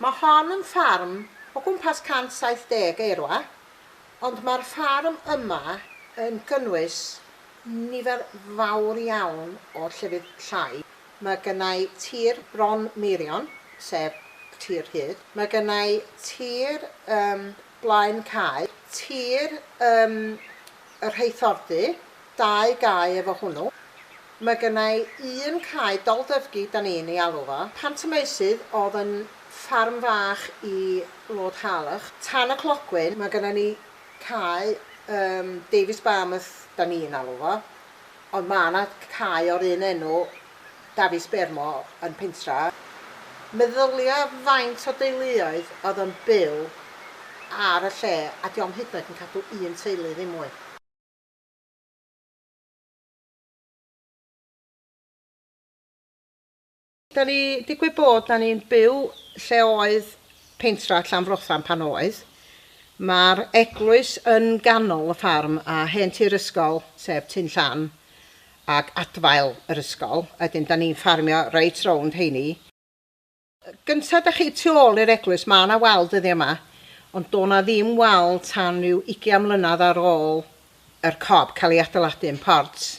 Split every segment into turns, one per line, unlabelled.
Mae hon yn ffarm o gwmpas 170 eirfa, ond mae'r ffarm yma yn cynnwys nifer fawr iawn o llefydd llai. Mae gennai tir bron meirion, sef tir rhydd, mae gennai tir ym blaen cae, tir ym Rheithordy, dau gae efo hwnnw. Mae gynna i un cae Doldyfgi 'dan ni'n ei alw fo. Pant y Meusydd oedd yn ffarm fach i Lord Harlech. Tan y clogwyn mae gynna ni cae ym Davies Barmouth 'dan ni'n alw fo. Ond mae 'na cae o'r un enw, Dafis Bermo, yn Pentra. Meddylia faint o deuluoedd oedd yn byw ar y lle a 'di o'm hyd yn oed yn cadw un teulu ddim mwy. Da ni digwydd bod da ni'n byw lle oedd pentra Llanfrothan pan oedd. Mae'r eglwys yn ganol y ffarm a hen tir ysgol, sef Tŷ'n Llan, ac adfail yr ysgol, a wedyn da ni'n ffarmio reit rownd heini. Gynta da chi tu ôl i'r eglwys, mae na wal dyddiau yma, ond do' na ddim wal tan ryw ugian mlynedd ar ôl yr cob cael ei adeiladu yn Ports.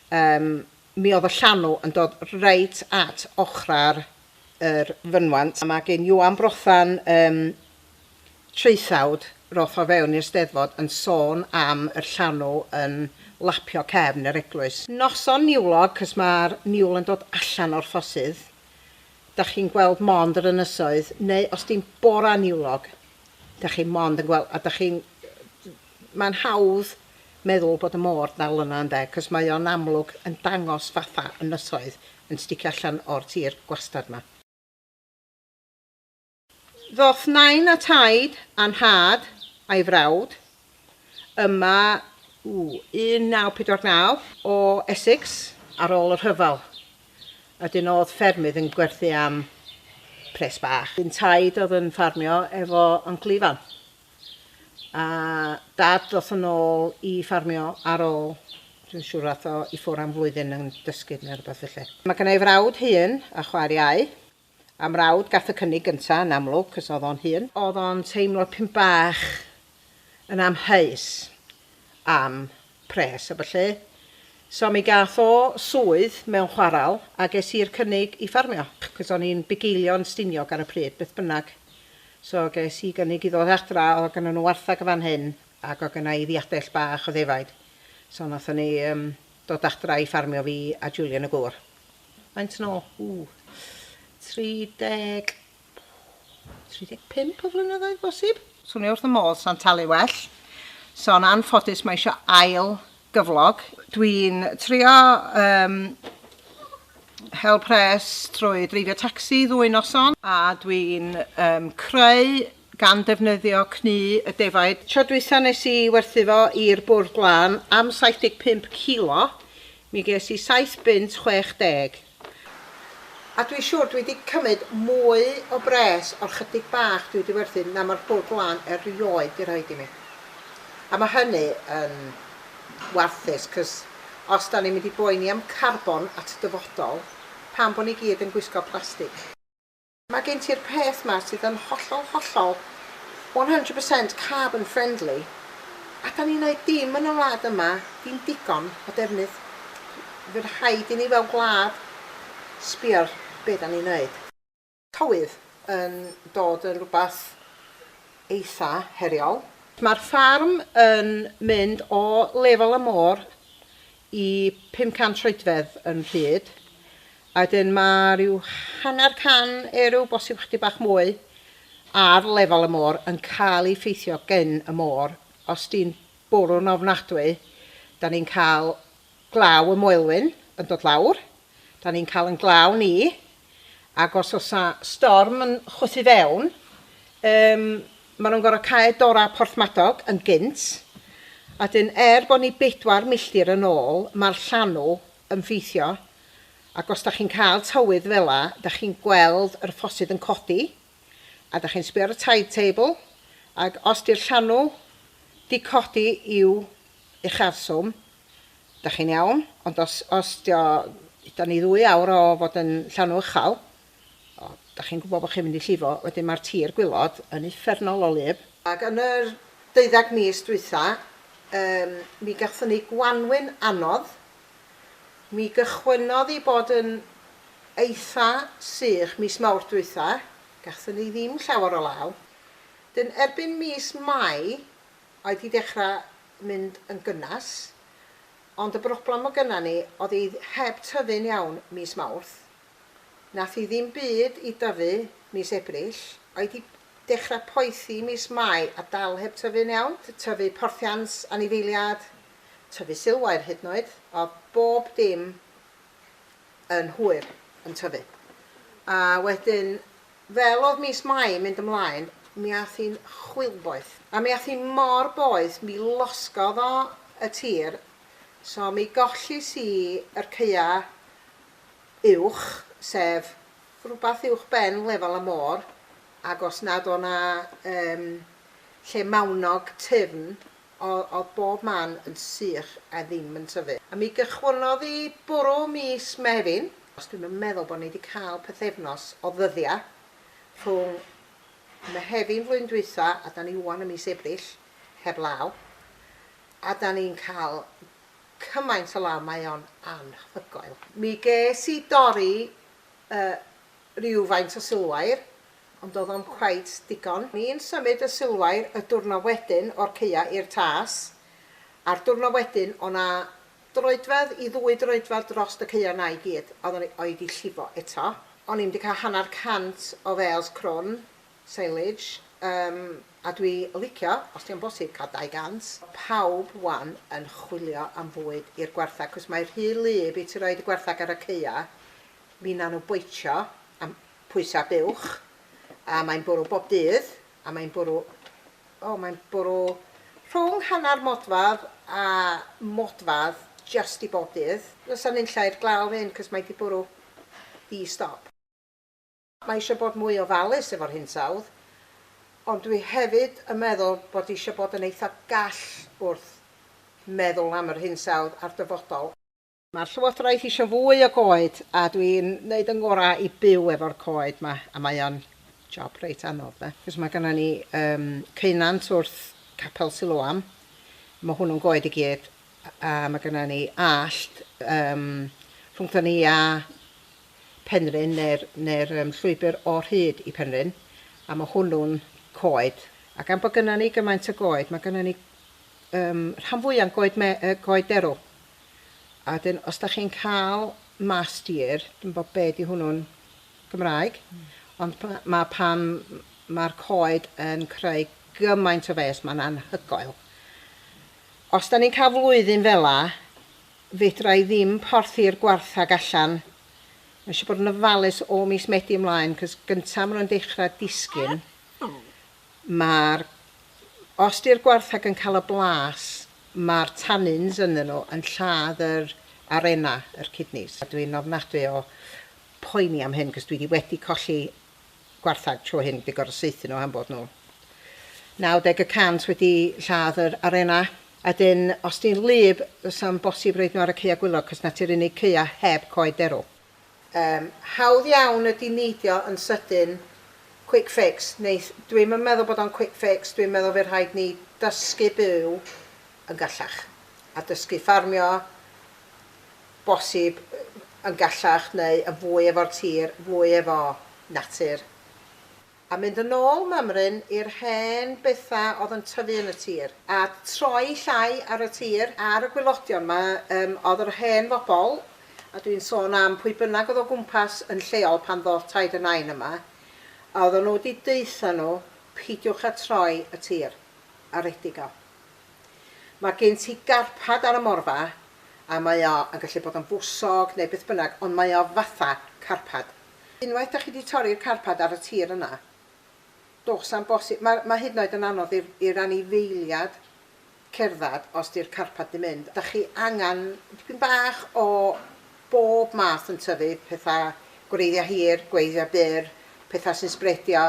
Yym Mi oedd y llanw yn dod reit at ochrau'r yr fynwant, a ma' gin Iwan Brothan yym traethawd roth o fewn i'r Steddfod yn sôn am yr llanw yn lapio cefn yr eglwys. Noson niwlog, 'c'os ma'r niwl yn dod allan o'r ffosydd, 'dach chi'n gweld mond yr ynysoedd, neu os di'n bora niwlog, 'dach chi mond yn gwel- a 'dach chi'n Mae'n hawdd meddwl bod y môr dal yna ynde, cos mae o'n amlwg yn dangos fatha ynysoedd yn sticio allan o'r tir gwastad ma. Ddoth Nain a Taid a Nhad a'i frawd yma u 1949 o Essex ar ôl y rhyfel, a dyn o'dd ffermydd yn gwerthu am pres bach. Dyn Taid o'dd yn ffarmio efo Uncle Ifan. a dad ddoth yn ôl i ffarmio ar ôl, dwi'n siŵr ath o i ffwr am flwyddyn yn dysgu neu rhywbeth felly. Mae gynna i frawd hŷn a chwaer iau, a mrawd gath y cynnig gynta yn amlwg cos oedd o'n hŷn. Oedd o'n teimlo pyn bach yn amheus am pres a ballu. So mi gath o swydd mewn chwarel a ges i'r cynnig i ffarmio, 'c'os o'n i'n bugeilio'n Stiniog ar y pryd, beth bynnag. So ges i gynnig i ddod adra, o'dd gynnon nw warthag yn fan hyn ac o'dd gynna i ddiadell bach o ddefaid. So nathon ni yym dod adra i ffarmio fi a Julian y gŵr. Faint yn ôl? Ww. 30 35 o flynyddoedd bosib? Swnio wrth y modd, sa'n talu well. So yn anffodus mae eisiau ail gyflog. Dwi'n trio um, hel pres trwy dreifio tacsi ddwy noson a dwi'n um, creu gan defnyddio cnu y defaid. Tro dwytha nes i werthu fo i'r bwrdd glân am 75 kilo, mi ges i 7 bunt 60. A dwi siwr dwi 'di cymyd mwy o bres o'r chydig bach dwi 'di werthu na ma'r bwrdd lan erioed 'di rhoid i mi. A ma' hynny yn warthus, 'cos os 'dan ni'n mynd i boeni am carbon at dyfodol, pam bo' ni gyd yn gwisgo plastig? Mae gen ti'r peth 'ma sydd yn hollol, hollol, one hundred percent carbon friendly, a 'dan ni'n neud dim yn y wlad yma, dim digon o defnydd. Fy rhaid i ni fel gwlad sbio ar be' 'dan ni'n neud. Tywydd yn dod yn rwbath eitha heriol. Mae'r ffarm yn mynd o lefel y môr i 500 troedfedd yn rhyd, a wedyn mae rhyw hanner can erw, bosib chydig bach mwy, ar lefel y môr yn cael ei ffeithio gen y môr. Os di'n bwrw'n ofnadwy, da ni'n cael glaw y Moelwyn yn dod lawr, Da ni'n cael yn glaw ni, ac os oes 'na storm yn chwythu fewn, yym, maen nhw'n gorfod cau dorau Porthmadog yn gynt, a wedyn er bod ni bedwar milltir yn ôl, mae'r llanw yn ffeithio, ac os da chi'n cael tywydd fela, da chi'n gweld yr ffosydd yn codi, a da chi'n sbio ar y tide table, ac os di'r llanw 'di codi i'w ucharswm, Dach chi'n iawn, ond os, os dio, da ni ddwy awr o fod yn llanw uchal, o, dach chi'n gwybod bod chi'n mynd i llifo, wedyn mae'r tir gwylod yn uffernol o wlyb. Ac yn yr deuddeg mis dwytha, yym, mi gathon ni gwanwyn anodd, mi gychwynnodd i bod yn eitha sych mis Mawrth dwytha, gathon ni ddim llawer o law, 'dyn erbyn mis Mai, oedd wedi dechrau mynd yn gynnes, ond y broblem o gynna ni oedd hi heb tyfu'n iawn mis Mawrth. Nath hi ddim byd i dyfu mis Ebrill, oedd wedi dechrau poethi mis Mai a dal heb tyfu'n iawn, tyfu porthiant, anifeiliad, tyfu silwair hyd yn oed, oedd bob dim yn hwyr yn tyfu. A wedyn Fel oedd mis Mai yn mynd ymlaen, mi ath hi'n chwilboeth. A mi ath hi mor boeth, mi losgodd o y tir, so mi gollys i yr caea' uwch, sef rhywbeth uwch ben lefel y môr, ac os nad o' 'na yym lle mawnog tyfn O'dd bob man yn sych a ddim yn tyfu. A mi gychwynnodd i bwrw mis Mehefin. Os dwi'm yn meddwl bo' ni 'di ca'l pythefnos o ddyddia' rhwng Mehefin flwyddyn dwytha' a 'dan ni ŵan ym mis Ebrill, heb law. A 'dan ni'n ca'l cymaint o law mae o'n anhygoel. Mi ges i dorri yy rywfaint o silwair Ond doedd o'm cweit digon. Ni'n symud y silwair y dwrno wedyn o'r caea i'r tas, a'r dwrno wedyn o' 'na droedfedd i ddwy droedfedd drost y caea 'na i gyd a oeddwn i di llifo eto. O'n i'm di cael hanner cant o fêls crwn, silage, yym a dwi licio, os dio'n bosib, cael dau gant. Pawb 'wan yn chwilio am fwyd i'r gwartheg 'cos mae rhy wlyb i ti roid y gwartheg ar y caea, finna nhw boitsio am pwysau buwch, a mae'n bwrw bob dydd, a mae'n bwrw, o, mae'n bwrw rhwng hanner modfadd a modfadd jyst i bob dydd. Does na nunlla i'r glaw hyn, cos mae 'di bwrw ddi stop. Mae isio bod mwy ofalus efo'r hinsawdd, ond dwi hefyd yn meddwl bod isio bod yn eitha gall wrth meddwl am yr hinsawdd a'r dyfodol. Mae'r Llywodraeth eisiau fwy o goed a dwi'n neud yng ngorau i byw efo'r coed ma a mae o'n job reit anodd de. Cos mae gynna ni yym ceunant wrth Capel Siloam, mae hwnnw'n goed i gyd a mae gynna ni allt yym rhwngthon ni a Penrhyn neu'r neu'r yym llwybr o'r hyd i Penrhyn a mae hwnnw'n coed a gan bod gynna ni gymaint o goed mae gynna ni yym rhan fwya'n goed me- yy goed derw. A wedyn os da chi'n cael mass deer, dwi'm yn gwybod be di hwnnw'n Gymraeg, ond pa- ma' pan ma'r coed yn creu gymaint o fês, ma'n anhygoel. Os da ni'n cael flwyddyn fela, fedra i ddim porthi'r gwarthag allan. Mae eisiau bod yn ofalus o mis Medi ymlaen, cos gynta ma' nhw'n dechrau disgyn. Mae'r... Os 'di'r gwartheg yn cael y blas, mae'r tannins ynddyn nhw yn lladd yr arena, yr kidneys. Dwi'n ofnadwy o poeni am hyn, cos dwi 'di wedi colli gwartheg tro hyn, wedi gorfod saethu nhw am bod nhw 90 y cant wedi lladd yr arena. A 'dyn, os 'di'n wlyb, 'sa'n bosib roid nhw ar y caeau gwylog, cos 'na ti'r unig caeau heb coed derw. Yym, hawdd iawn ydi neidio yn sydyn, quick fix, neu dwi'm yn meddwl bod o'n quick fix, dwi'n meddwl fydd rhaid ni dysgu byw yn gallach, a dysgu ffarmio, bosib, yn gallach neu yn fwy efo'r tir, fwy efo natur. A mynd yn ôl mymryn i'r hen betha odd yn tyfu yn y tir. A troi llai ar y tir. Ar y gwilodion ma yym odd yr hen fobol, a dwi'n sôn am pwy bynnag odd o gwmpas yn lleol pan ddoth Taid y Nain yma, a oddan nhw di deutha nhw peidiwch a troi y tir a redig o. Ma gin ti garpad ar y morfa a mae o yn gallu bod yn fwsog neu beth bynnag ond mae o fatha carpad. Unwaith dach chi 'di torri'r carpad ar y tir yna, does 'am bosib, mae mae hyd yn oed yn anodd i'r i'r anifeiliad cerdded os 'di'r carpad 'di mynd. Dach chi angen dipyn bach o bob math yn tyfu, petha gwreiddia' hir, gwreiddia' byr, petha sy'n sbredio.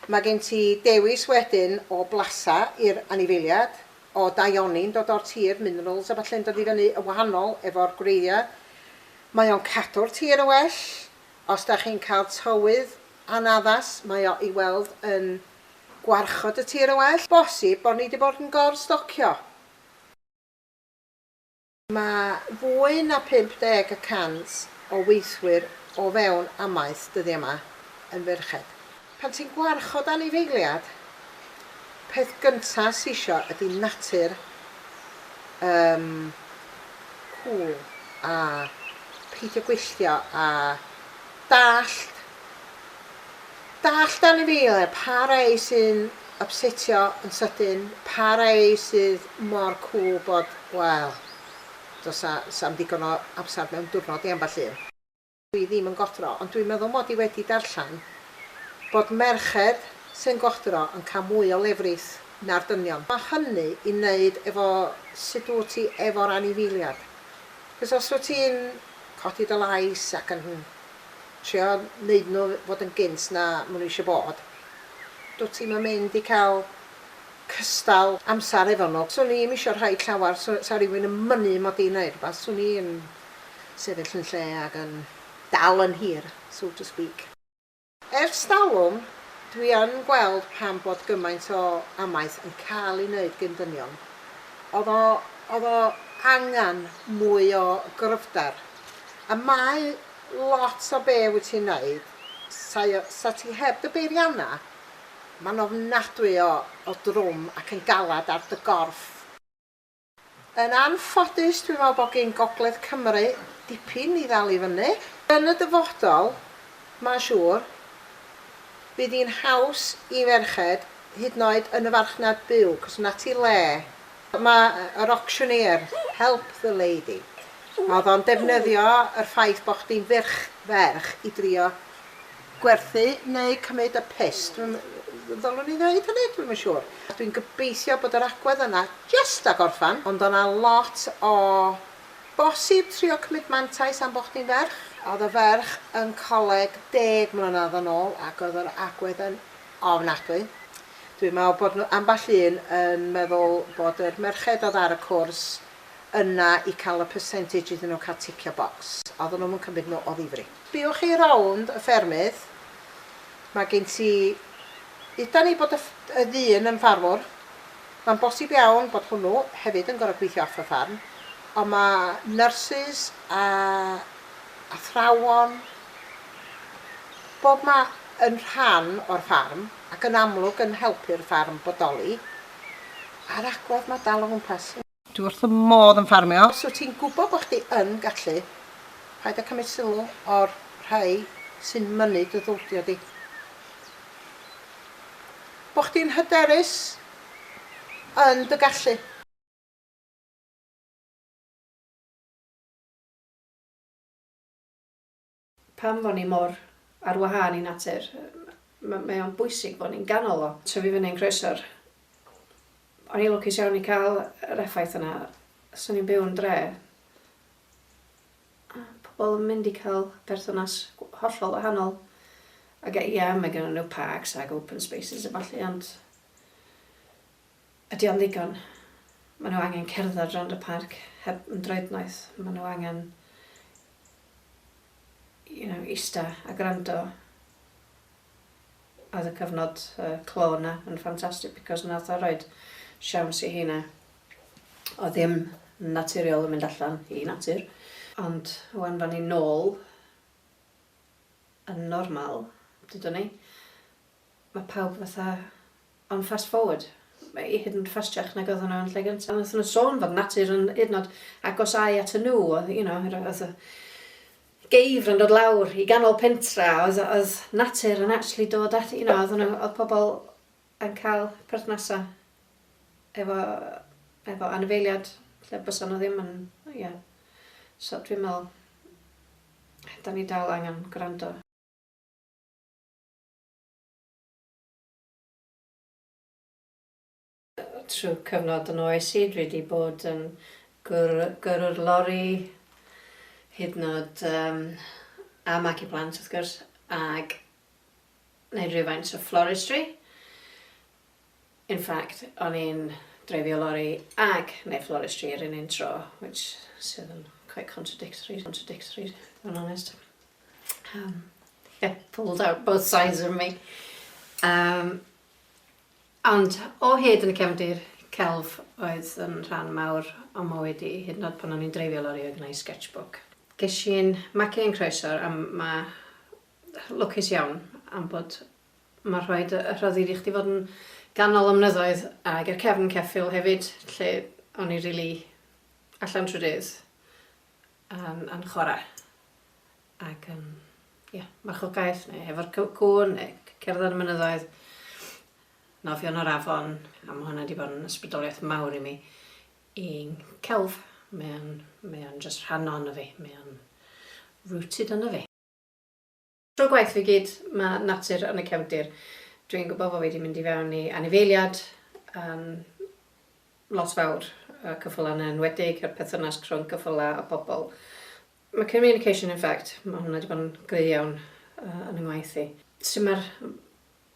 Mae gen ti dewis wedyn o blasa i'r anifeiliad, o daioni'n dod o'r tir, minerals a ballu'n dod i fyny yn wahanol efo'r gwreiddia'. Mae o'n cadw'r tir yn well. Os dach chi'n cael tywydd anaddas mae o i weld yn gwarchod y tir yn well. Bosib bod ni 'di bod yn gor-stocio. Mae fwy na 50 y cant o weithwyr o fewn amaeth dyddiau 'ma yn ferched. Pan ti'n gwarchod anifeiliad, peth gynta sy isio ydi natur yym cŵl a peidio gwylltio a dallt dallt anifeiliad, pa rei sy'n ypsetio yn sydyn, pa rei sydd mor cŵl bod, wel, does 'na, 'sna'm digon o amser mewn diwrnod i ambell un. Dw i ddim yn godro, ond dwi'n meddwl mod i wedi darllen bod merched sy'n godro yn cael mwy o lefrith na'r dynion. Mae hynny i wneud efo sut wyt ti efo'r anifeiliad. Achos os wyt ti'n codi dy lais ac yn trio wneud nhw fod yn gynt na maen nhw eisiau bod, dwyt ti'm yn mynd i cael cystal amser efo nhw. 'Swn i ddim eisiau rhoi llawer, 'sa rhywun yn mynnu mod i'n wneud rhywbeth, 'swn i yn sefyll yn lle ac yn dal yn hir, so to speak. Ers talwm, dwi yn gweld pam bod gymaint o amaeth yn cael ei wneud gin dynion. Oedd o, oedd o angen mwy o gryfder. A mae lot o be wyt ti'n wneud, sa, sa ti heb dy beiriannau, mae'n ofnadwy o, o drwm ac yn galed ar dy gorff. Yn anffodus dwi'n meddwl bod gin Gogledd Cymru dipyn i ddal i fyny. Yn y dyfodol, mae'n siŵr, bydd hi'n haws i ferched, hyd yn oed yn y farchnad byw, cos 'na ti le. Mae yr auctioneer, help the lady, oedd o'n defnyddio yr ffaith bod chdi'n ferch, ferch, i drio gwerthu neu cymryd y piss, dwi'm, ddylwn i ddeud hynny? Dwi'm yn siŵr. Dwi'n gobeithio bod yr agwedd yna jyst a gorffan, ond o' 'na lot o bosib trio cymryd mantais am bo' chdi'n ferch. O'dd y ferch yn coleg deg mlynadd yn ôl ac oedd yr agwedd yn ofnadwy. Dwi'n meddwl bod nhw, ambell un, yn meddwl bod yr merched oedd ar y cwrs yna i cael y percentage iddyn nhw cael ticio bocs. Oedden nhw'm yn cymryd nhw o ddifri. Biwch chi rownd y ffermydd. Mae gen ti Udan i bod y y ddyn yn ffarmwr. Mae'n bosib iawn bod hwnnw hefyd yn gorfod gweithio off y ffarm. Ond mae nyrsys a athrawon, bob ma yn rhan o'r ffarm ac yn amlwg yn helpu'r ffarm bodoli a'r agwedd mae dal o gwmpas. Dwi wrth fy modd yn ffarmio. Os wyt ti'n gwybod bod chdi yn gallu, paid â cymryd sylw o'r rhai sy'n mynnu dy ddyldio di. Bod chdi'n hyderus yn dy gallu.
Pam fo' ni mor ar wahân i natur? M- mae o'n bwysig bo' ni'n ganol o. Tyfu fyny'n Croesor. O'n i'n lwcus iawn i ca'l yr effaith yna. Os o'n i'n byw yn dre, o' pobol yn mynd i ca'l perthynas gw- hollol wahanol. Ag yy ie, mae gynnon nw parks ag open spaces a ballu ond Ydy o'n ddigon? Maen nhw angen cerdded rownd y parc heb ymdroed noeth. Maen nhw angen you know, ista a gwrando. Oedd y cyfnod uh, clo yna yn ffantastig because nath o roed siawns i heina. Oedd ddim naturiol yn mynd allan i natur. Ond wan fan ni nôl yn normal, dydw ni, Mae pawb fatha on fast forward. Mae i hyd yn oed ffastiach nag oedden nhw yn lle gynta. Nathon nhw sôn fod natur yn hyd yn oed agosau atyn nhw oedd you know yr oedd y geifr yn dod lawr i ganol pentra oedd oedd natur yn actually dod at you know oedd nhw oedd pobl yn cael perthnasau efo efo anifeiliad lle bysa nhw ddim yn ie yeah. so dwi'n meddwl da ni dal angen gwrando. Trwy cyfnod yn oes i, dwi 'di bod yn gyrrwr lori hyd yn oed a magu plant wrth gwrs, ag neud rhywfaint o floristry. In fact o'n i'n dreifio lori ag neud floristry yr un un tro which sydd yn quite contradictory contradictory i fod yn onest. Yym ie pulled out both sides of me. Yym ond o hyd yn y cefndir celf oedd yn rhan mawr o mywyd i hyd yn o'd pan o'n i'n dreifio lori oedd gynna i sketchbook. Gesh i'n magu yn Croesor a ma' lwcus iawn am bod Mae'n rhaid y rhyddid i chdi fod yn ganol y mynyddoedd ac i'r cefn ceffyl hefyd lle o'n i rili allan trwy dydd yn, yn chwarae. Ac yn, ie, yeah, marchogaeth neu hefo'r cŵn neu cerdded y mynyddoedd, nofio yn yr afon, a mae hwnna wedi bod yn ysbrydoliaeth mawr i mi i'n celf. Mae o'n, mae o'n just rhan o'n fi, mae o'n rooted yn y fi. Tro gwaith fi gyd, mae natur yn y cefndir. Dwi'n gwybod fod fi wedi mynd i fewn i anifeiliad yn lot fawr, y cyffylau yn enwedig, a'r perthynas rhwng cyffylau a pobl. Mae communication in fact, mae hwnna wedi bod yn gry iawn yn yngwaith i. Sut mae'r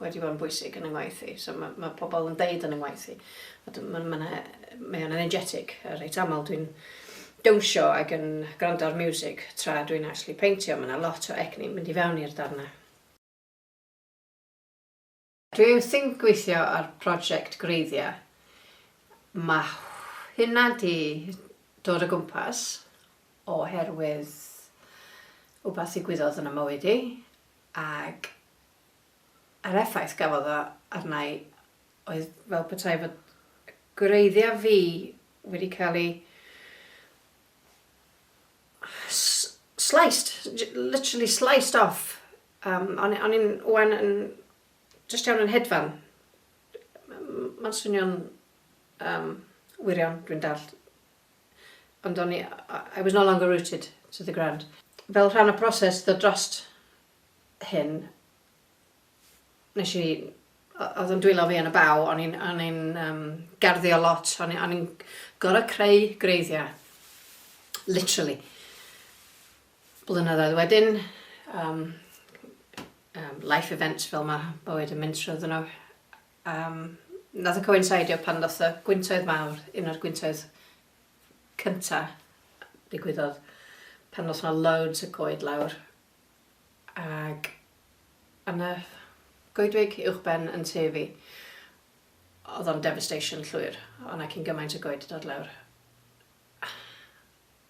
wedi bod yn bwysig yn 'y ngwaith i. So ma' ma' pobl yn deud yn 'y ngwaith i. A dw- ma' ma' 'na... Mae o'n energetic. A reit aml dwi'n dawnsio ac yn gwrando ar miwsig tra dwi'n actually peintio. Ma' 'na lot o egni'n mynd i fewn i'r darn 'na. Dwi wrthi'n gweithio ar project gwreiddiau. Ma' hynna 'di dod o gwmpas oherwydd wbath ddigwyddodd yn 'y mywyd i ac A'r effaith gafodd o arna i oedd fel petai fy gwreiddiau fi wedi cael eu sliced, literally sliced off. Um, o'n, on i'n wan yn just iawn yn hedfan. Mae'n swnio'n um, wirion, dwi'n dallt. Ond o'n i, I was no longer rooted to the ground. Fel rhan o proses ddod drost hyn, nes i... oedd o'n dwylo fi yn y baw, o'n i'n o'n i'n um, garddio lot, o'n i'n o'n i'n gorau creu greiddiau, literally. Blynyddoedd wedyn, um, um, life events fel mae bywyd yn mynd trwy nhw, um, nath y coincidio pan ddoth y gwyntoedd mawr, un o'r gwyntoedd cynta digwyddodd pan ddoth yna loads y coed lawr Ac yna, goedwig uwchben yn tŷ fi. Oedd o'n devastation llwyr, oedd 'na cyn gymaint o goed 'di dod lawr.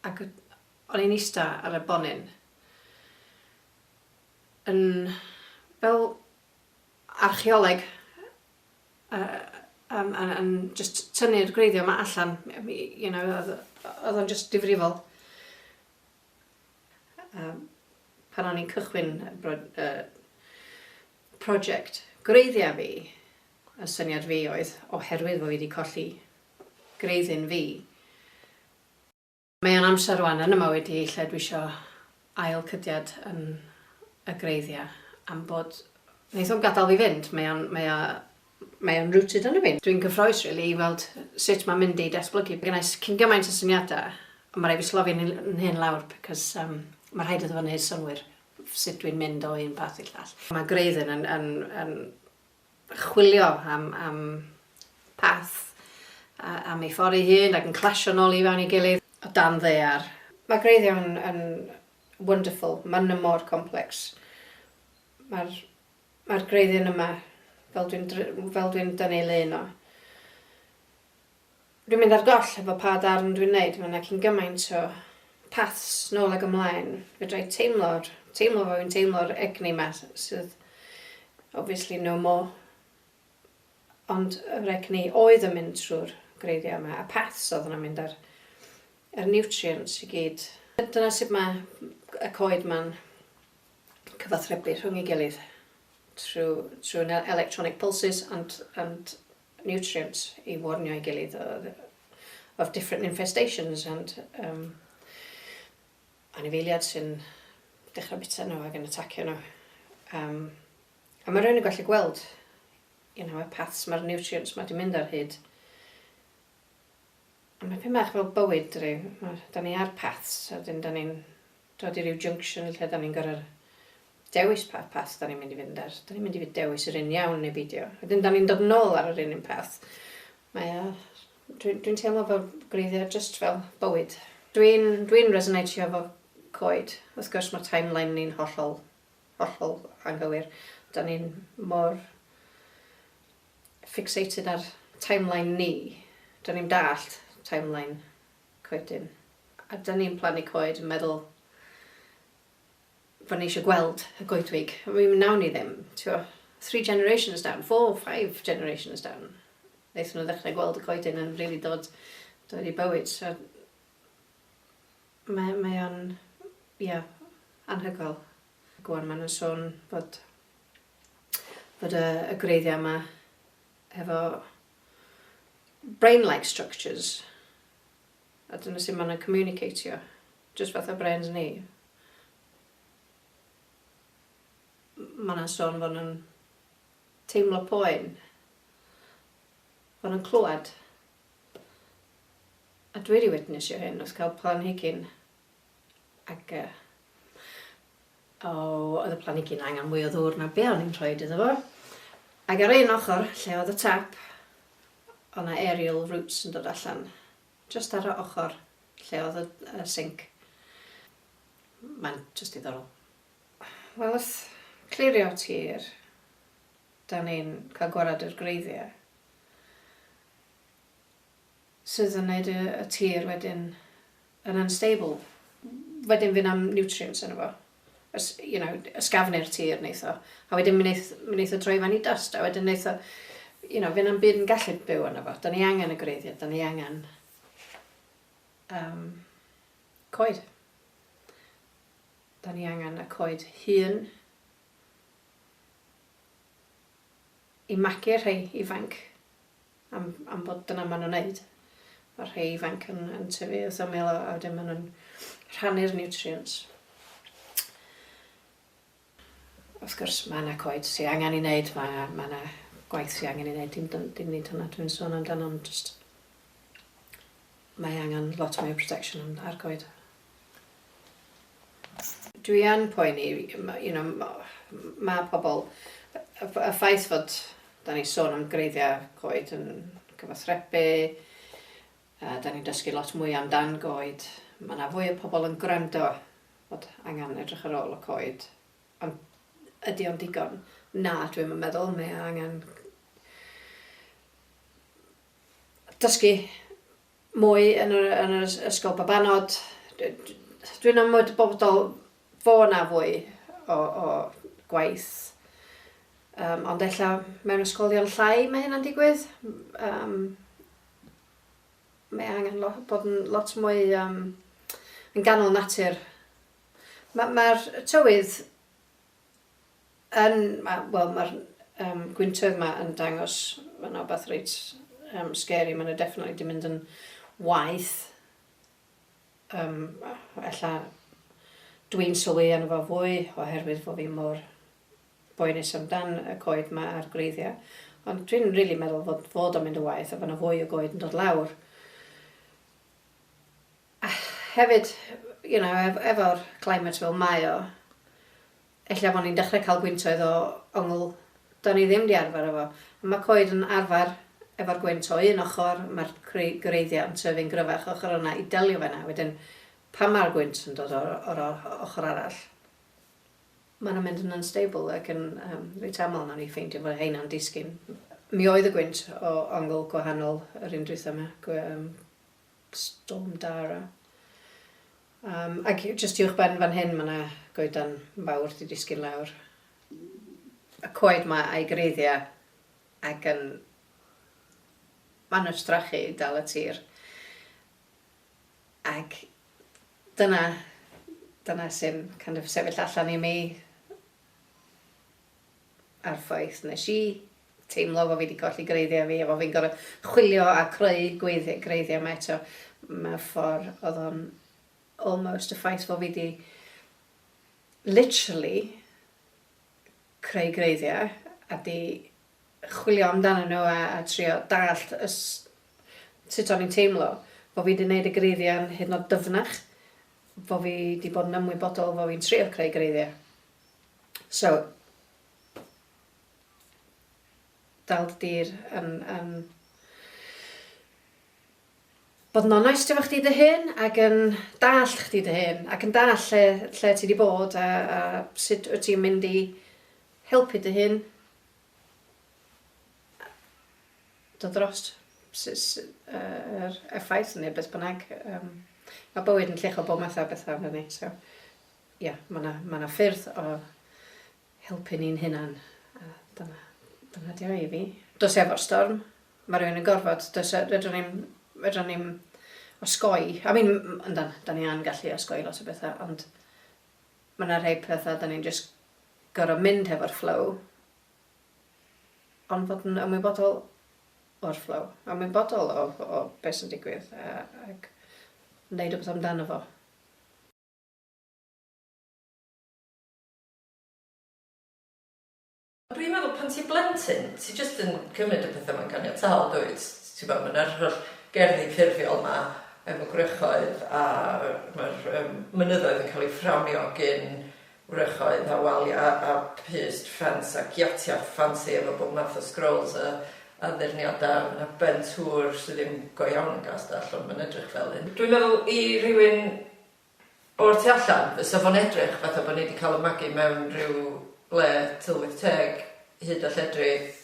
Ac o'n i'n ista ar y bonyn, yn fel archeoleg, yn jyst tynnu'r gwreiddiau 'ma allan, you know, oedd o'n jyst difrifol. Yym, pan o'n i'n cychwyn bro- yy prosiect gwreiddia' fi, y syniad fi oedd, oherwydd bo' fi 'di colli gwreiddyn fi, mae o'n amser rŵan yn 'y mywyd i lle dwi isio ail cydiad yn y gwreiddia' am bod... Neith o'm gadal fi fynd, mae o'n, mae o Mae o'n rooted yno fi. Dwi'n gyffrous rili i weld sut mae'n mynd i datblygu. Mae gennai cyn gymaint o syniadau ond mae rhaid fi slofi fy hun lawr because um, mae rhaid iddo fo wneud synwyr sut dwi'n mynd o un path i'r llall. Mae Graydon yn, yn, yn chwilio am, am path a, am ei ffordd ei hun ac yn clasio nôl i fewn i gilydd o dan ddear. Mae Graydon yn wonderful, mae nhw mor complex. Mae'r Mae'r gwreiddyn yma, fel dwi'n fel dwi'n dynnu ei lun o. Dwi'n mynd ar goll efo pa darn dwi'n neud, mae yna cyn gymaint o paths nôl ag ymlaen. Fedra i teimlo'r, teimlo fo, fi'n teimlo'r egni yma sydd obviously no more. Ond yr egni oedd yn mynd trwy'r gwreiddiau yma, a paths oedd yna'n mynd ar yr nutrients i gyd. Dyna sut mae y coed ma'n cyfathrebu rhwng ei gilydd trwy trwy na- electronic pulses and and nutrients i warnio ei gilydd o yy of different infestations and yym anifeiliad sy'n dechra bita nhw ag yn atacio nhw. Yym a ma' rywun yn gallu gweld you know y paths ma'r nutrients ma' 'di mynd ar hyd a ma' pyn bach fel bywyd dydi ma' 'dan ni ar paths a 'dyn 'dan ni'n dod i ryw junction lle 'dan ni'n gor'o' dewis pa path 'dan ni'n mynd i fynd ar. 'Dan ni'n mynd i fy- dewis yr un iawn neu beidio. Wedyn 'dan ni'n dod nôl ar yr un un peth. Mae o... Dwi dwi'n teimlo fel gwreiddia' jyst fel bywyd. Dwi'n dwi'n resoneitio efo coed. Wrth gwrs ma' timeline ni'n hollol hollol anghywir. 'Dan ni'n mor fixated ar timeline ni. 'Dan ni'm dallt timeline coedyn. A dan ni'n plannu coed yn meddwl fod ni eisiau gweld y goedwig. I mean, nawn ni ddim, ti'o. Three generations down, four, five generations down, wnaethon nhw ddechrau gweld y coedyn yn rili dod, dod i bywyd. So, mae, mae o'n, ie, yeah, anhygoel. Ac o'n maen nhw'n sôn bod, bod y, y greiddiau yma hefo brain-like structures, a dyna sut maen nhw'n communicatio, jyst fatha brains ni. Mae yna sôn fod nhw'n teimlo poen, fod nhw'n clywed. A dwi wedi witnessio hyn wrth cael planhigyn Ac yy o, oedd y planigyn angen mwy o ddŵr na be o'n i'n rhoid iddo fo. Ac ar un ochr, lle oedd y tap, o' 'na aerial roots yn dod allan. Just ar y ochr lle oedd y, y sink. Mae'n just diddorol. Wel wrth clirio tir, da ni'n cael gwared i'r gwreiddiau. sydd yn neud y y tir wedyn yn unstable wedyn fy' na'm nutrients yno fo y s- you know ysgafnu'r tir neith o a wedyn mi neith mi neith o droi fan i dyst a wedyn neith o you know fy' na'm byd yn gallu byw yno fo 'dan ni angen y gwreiddia' 'dan ni angen yym coed 'dan ni angen y coed hŷn i magu rhei ifanc am am bod dyna ma' nw'n neud. Ma'r rhei ifanc yn yn tyfu wrth ymyl a a wedyn ma' nw'n rhannu'r nutrients. Wrth gwrs ma' 'na coed sy angan 'i neud ma' ma' 'na gwaith sy angen 'i neud dim dyn- dim nid hwnna dwi'n sôn amdano ond jyst mae angan lot mwy o protection yn ar coed. Dwi yn poeni, you know, ma' pobl, y ffaith fod 'da ni'n sôn am greiddiau goed yn cyfathrebu, a 'da ni'n dysgu lot mwy amdan goed, ma' 'na fwy o pobl yn gwrando fod angen edrych ar ôl y coed, ond ydi o'n digon? Na, dwi'm yn meddwl, mae angen dysgu mwy yn yr yn yr ysgol babanod dwi'n ymwybodol fo' 'na fwy o o gwaith um, ond ella mewn ysgolion llai mae hynna'n digwydd um, mae angen lo, bod yn lot mwy um, yn ganol natur mae'r ma tywydd Yn, ma', wel ma'r yym gwyntoedd 'ma yn dangos ma' 'na wbath reit yym scary, ma' 'na definitely 'di mynd yn waeth yym ella dwi'n sylwi arno fo fwy oherwydd fo' fi mor boenus am dan y coed 'ma a'r gwreiddia', ond dwi'n rili meddwl fod fod o'n mynd yn waeth a fo' 'na fwy o goed yn dod lawr. A hefyd, you know, ef- efo'r climate fel mae o, ella fo' ni'n dechre ca'l gwyntoedd o ongl 'da ni ddim 'di arfer efo. A ma' coed yn arfer efo'r gwynt o un ochor, ma'r gwrei- gwreiddia' yn tyfu'n gryfach ochor yna i delio 'fo 'na, wedyn pan ma'r gwynt yn dod o'r o'r o- ochor arall, ma' nw'n mynd yn unstable ac yn yym reit aml nawn ni ffeindio fo' rheina'n disgyn. Mi oedd y gwynt o ongl gwahanol yr un dwytha 'ma, gwe- yym Storm Dara. Yym, ac jyst uwch ben fan hyn ma' 'na goedan fawr 'di disgyn lawr. Y coed 'ma a'i gwreiddia' ac yn manywstrachu i dal y tir. Ac dyna dyna sy'n kind of sefyll allan i mi. a'r ffaith nes i teimlo fo fi 'di colli gwreiddia fi a fo fi'n gor'o chwilio a creu gweiddi- gwreiddia 'ma eto mewn ffor odd o'n almost y ffaith fo fi 'di literally creu gwreiddia a 'di chwilio amdanyn nhw a a trio dallt y s- sut o'n i'n teimlo fo fi 'di neud y gwreiddia'n hyd yn o'd dyfnach fo fi 'di bod yn ymwybodol fo fi'n trio creu gwreiddia. So fel dy dir yn, yn bod yn onest efo chdi dy hun ac yn dallt chdi dy hun ac yn dallt lle, lle ti wedi bod a, a sut wyt ti'n mynd i helpu dy hun dod drost yr effaith neu beth bynnag. Um, mae bywyd yn llicho bob math o bethau fyny. So, Ia, mae 'na, mae 'na ffyrdd o helpu ni'n hunan, a dyna, dyna di o i fi. Dos efo'r storm, mae rhywun yn gorfod, does, e- fedrwn ni'm, fedrwn ni'm osgoi, I mean, m- yndan, da ni yn gallu osgoi lot o bethau, ond mae 'na rhai pethau da ni'n just gorfod mynd hefo'r flow, ond fod yn ymwybodol o'r flow, ymwybodol o, o beth sy'n digwydd, a, ac wneud rhywbeth amdano fo.
Ond dwi'n meddwl pan ti'n blentyn, ti jyst yn cymryd y petha mae'n ganiataol dwyt? T'bo' ma' 'na'r holl gerddi ffurfiol 'ma efo gwrychoedd a ma'r yym mynyddoedd yn ca'l 'u fframio gin wrychoedd a walia a pyst ffens a giatia ffansi efo bob math o sgrols a addurniada a ma' 'na Ben Hur sy ddim go iawn yn Gastell ond ma'n edrych fel un. Dwi'n meddwl i rywun O'r tu allan, fysa fo'n edrych fatha bo' ni 'di cael y magu mewn rhyw le tylwyth teg, hud a lledrith.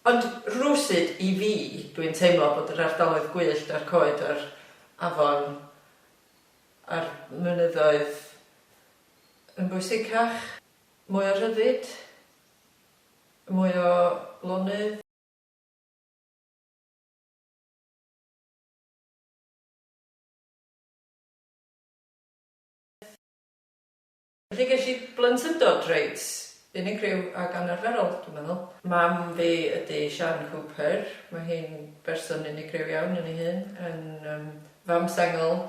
Ond rywsut, i fi, dwi'n teimlo bod yr ardaloedd gwyllt a'r coed a'r afon a'r mynyddoedd yn bwysicach. Mwy o rhyddid, mwy o lonydd. Felly ges i blentyndod reit unigryw ac anarferol, dwi'n meddwl. Mam fi ydy Siân Cooper. Mae hi'n berson unigryw iawn yn ei hun, yn yym fam sengl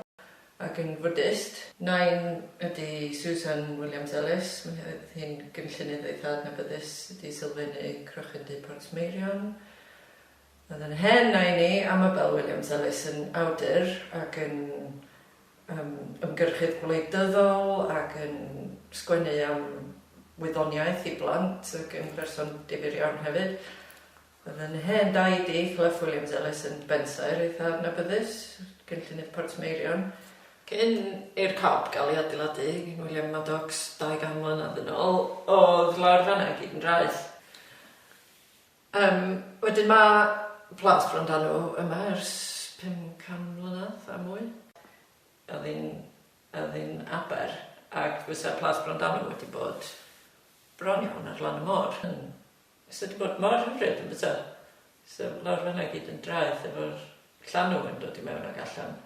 ac yn Fwdist. Nain ydy Susan Williams-Ellis. Mae hi oedd hi'n gynllunydd eitha' adnabyddus, 'di sylfaenu Crochyn Du Portmeirion. Oedd yn hen na i ni, Amabel Williams-Ellis yn awdur ac yn yym ymgyrchydd gwleidyddol ac yn sgwennu am wyddoniaeth i blant ac yn berson difyr iawn hefyd. Oedd yn hen daid i, Clough Williams-Ellis yn bensaer eitha' adnabyddus, cynllunydd Portmeirion. Cyn i'r cob gael ei adeiladu gin William Maddox dau gan mlynedd yn ôl, oedd lawr fan'na i gyd yn draeth. Yym, wedyn ma' plant bron da nhw yma ers pum can mlynadd a mwy. O'dd hi'n o'dd hi'n aber ac fysa plant bron da nhw wedi bod bron iawn ar lan y môr yn fysa wedi bod mor hyfryd yn bysa? So lawr fan'na i gyd yn draeth efo'r llanw yn dod i mewn ac allan.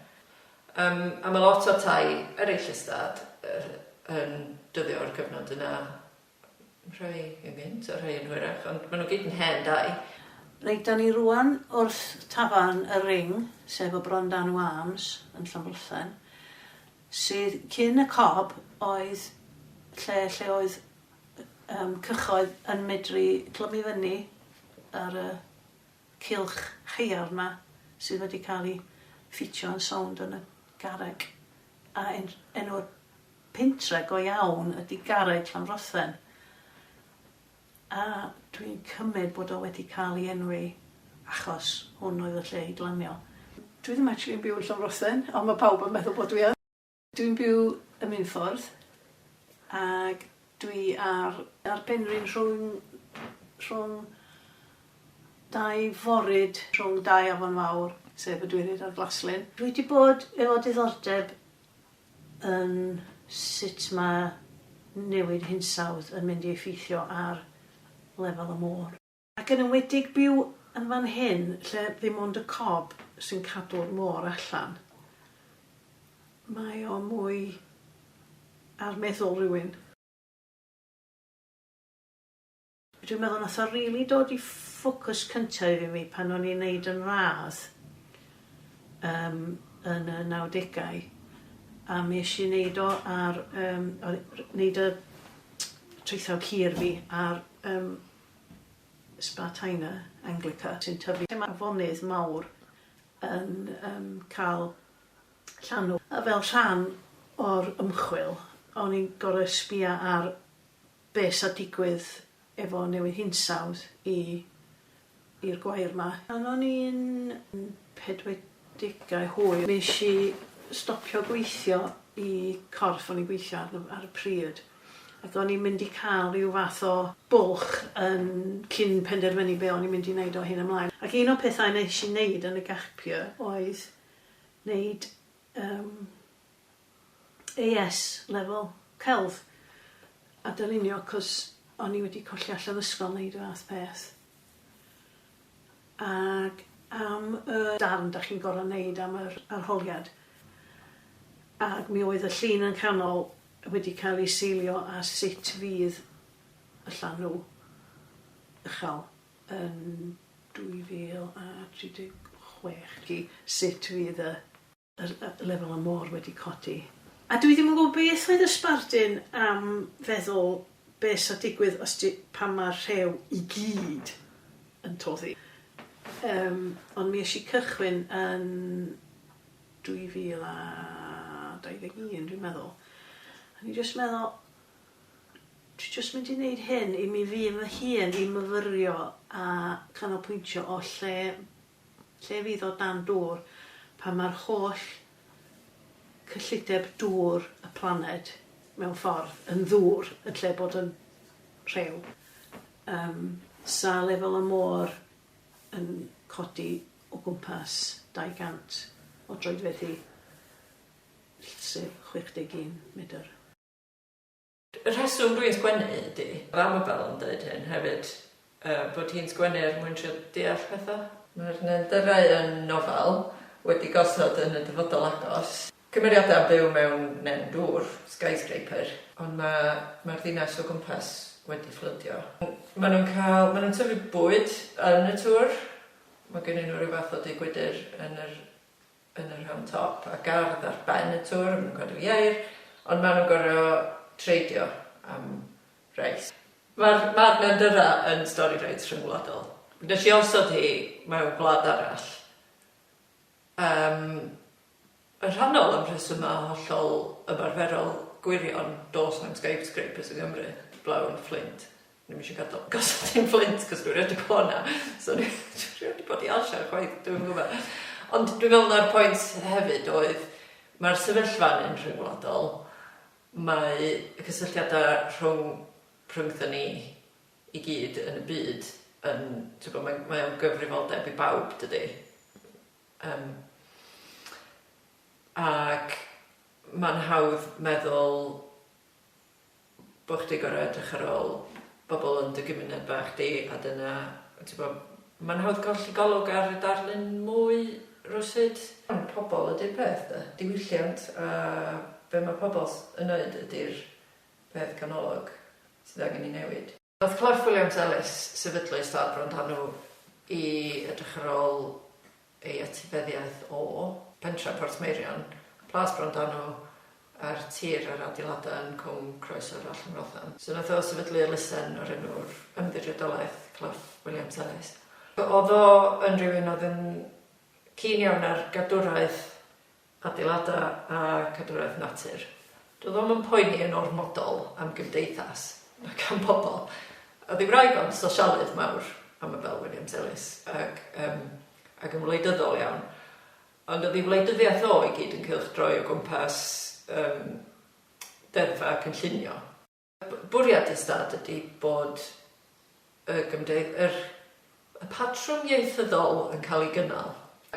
Yym a ma' lot o'r tai ereill ystâd yy yn dyddio o'r cyfnod yna Rhai yn gynt a rhai yn hwyrach, ond maen nhw gyd yn hen dai. Reit, da ni
rŵan wrth tafarn y Ring, sef y Bron Dan y Wams yn Llambwllen, sydd cyn y Cob oedd lle lle oedd yym cychoedd yn medru clymu fyny ar y cylch haearn 'ma sydd wedi cael ei ffitio yn sownd yn y garreg a en- enw'r Pentre go iawn ydy garej Llanfrothen a dwi'n cymyd bod o wedi cael ei enwi achos hwn oedd y lle i glanio. Dwi ddim actually yn byw yn Llanfrothen ond mae pawb yn meddwl bod dwi yn. Dwi'n byw ym Minffordd ac dwi ar ar penrhyn rhwng rhwng dau foryd rhwng dau afon fawr sef y Dwyryd a'r Glaslyn. Dwi 'di bod efo diddordeb yn sut mae newid hinsawdd yn mynd i effeithio ar lefel y môr. Ac yn enwedig byw yn fan hyn lle ddim ond y cob sy'n cadw'r môr allan, mae o mwy ar meddwl rywun. Dwi'n meddwl nath o rili dod i ffocws cynta i fi pan o'n i'n neud yn radd yym yn y nawdegau a mi esh i neud o ar yym o- r- neud y traethawd hir fi ar yym Spartina Anglica sy'n tyfu lle ma' afonydd mawr yn yym ca'l llanw a fel rhan o'r ymchwil o'n i'n gor'o' sbïa ar be sa digwydd efo newid hinsawdd i i'r gwair ma. Pan o'n i'n pedwedegau hwyr nesh i stopio gweithio i corff o'n i'n gweithio arno ar y pryd ac o'n i'n mynd i ca'l ryw fath o bwlch yn cyn penderfynu be o'n i'n mynd i neud o hyn ymlaen ac un o pethau nesh i neud yn y gap year oedd neud yym AS level, celf, a dylunio cos o'n i wedi colli allan o ysgol neud y fath peth. Ag am y darn dach chi'n gor'o' neud am yr arholiad. Ag mi oedd y llun yn canol wedi cael ei seilio ar sut fydd y llanw uchel yn 2036 i sut fydd y Yr y lefel y môr wedi codi. A dwi ddim yn gwybod beth oedd y sbardun am feddwl be sa digwydd os di, pan ma'r rhew i gyd yn toddi. Yym ond mi esh i cychwyn yn 2021 dwi'n meddwl. O'n i jyst meddwl dwi jyst mynd i neud hyn i mi fy hun i myfyrio a canolpwyntio o lle lle fydd o dan dŵr pan mae'r holl cyllideb dŵr y planed, mewn ffordd, yn ddŵr yn lle bod yn rhew. Yym, 'sa lefel y môr yn codi o gwmpas 200 o droedfeddi llysif, 61 medr.
Y rheswm dwi'n sgwennu ydi, fel ma' Bel yn deud hyn hefyd, yy bod hi'n sgwennu er mwyn trio deall petha. Mae'r neandyrau yn nofel wedi gosod yn y dyfodol agos, cymeriadau yn byw mewn nen dŵr, skyscraper, ond ma' ma'r ddinas o gwmpas wedi fflwdio. Ma' nhw'n cael, ma' nhw'n tyfu bwyd yn y tŵr, ma' gennyn nhw ryw fath o dŷ gwydr yn yr yn y rhan top a gardd ar ben y tŵr a ma' nhw'n cadw ieir ond ma' nhw'n gor'o' treidio am reis. Ma'r ma'r Nandurra yn stori reit rhyngwladol. Nes i osod hi mewn gwlad arall yym yn rhannol am rhesyma' hollol ymarferol gwirion, do's na'm skyscrapers yng Nghymru, heblaw yn Fflint. Dwi'm isio gadal gosod un Fflint cos dwi rioed di bod na so dwi rioed di bod i Alshire chwaith dwi'm yn gwbod ond dwi'n meddwl na'r point hefyd oedd ma'r sefyllfa yn rhyngwladol mae y cysylltiada rhwng rhyngtho ni i gyd yn y byd yn t'wbo mae'n mae o'n gyfrifoldeb i bawb dydi? Yym ac ma'n hawdd meddwl bo' chdi gor'o' edrych ar ôl bobol yn dy gymuned bach di a dyna t'bo' ma'n hawdd colli golwg ar y darlun mwy rywsut. Ond pobol ydi'r peth 'de, diwylliant a be' ma' pobol yn neud ydi'r peth canolog sydd angen 'i newid. Wrth Clwffe Williams-Ellis sefydlu Ystâd Brondanw i edrych ar ôl ei etifeddiaeth o Pentre Portmeirion, Plas Brondanw a'r tir a'r adeiladau yn Cwm Croes O'r Allt yn Rothan. So nath o sefydlu elusen o'r enw Ymddiriedolaeth Clwffe Williams-Ellis. O'dd o yn rywun o'dd yn keen iawn ar gadwraeth Adeiladau a Cadwraeth Natur. Dw ddim yn poeni yn ormodol am gymdeithas na gan bobl, oedd ei wraig o'n sosialydd mawr, Amabel Williams Ellis, ac yym ac yn wleidyddol iawn, ond oedd ei wleidyddiaeth o i gyd yn cylchdroi o gwmpas yym deddfau cynllunio. Bwriad y stad ydy bod y gymdeith- yr y patrwm ieithyddol yn cael ei gynnal.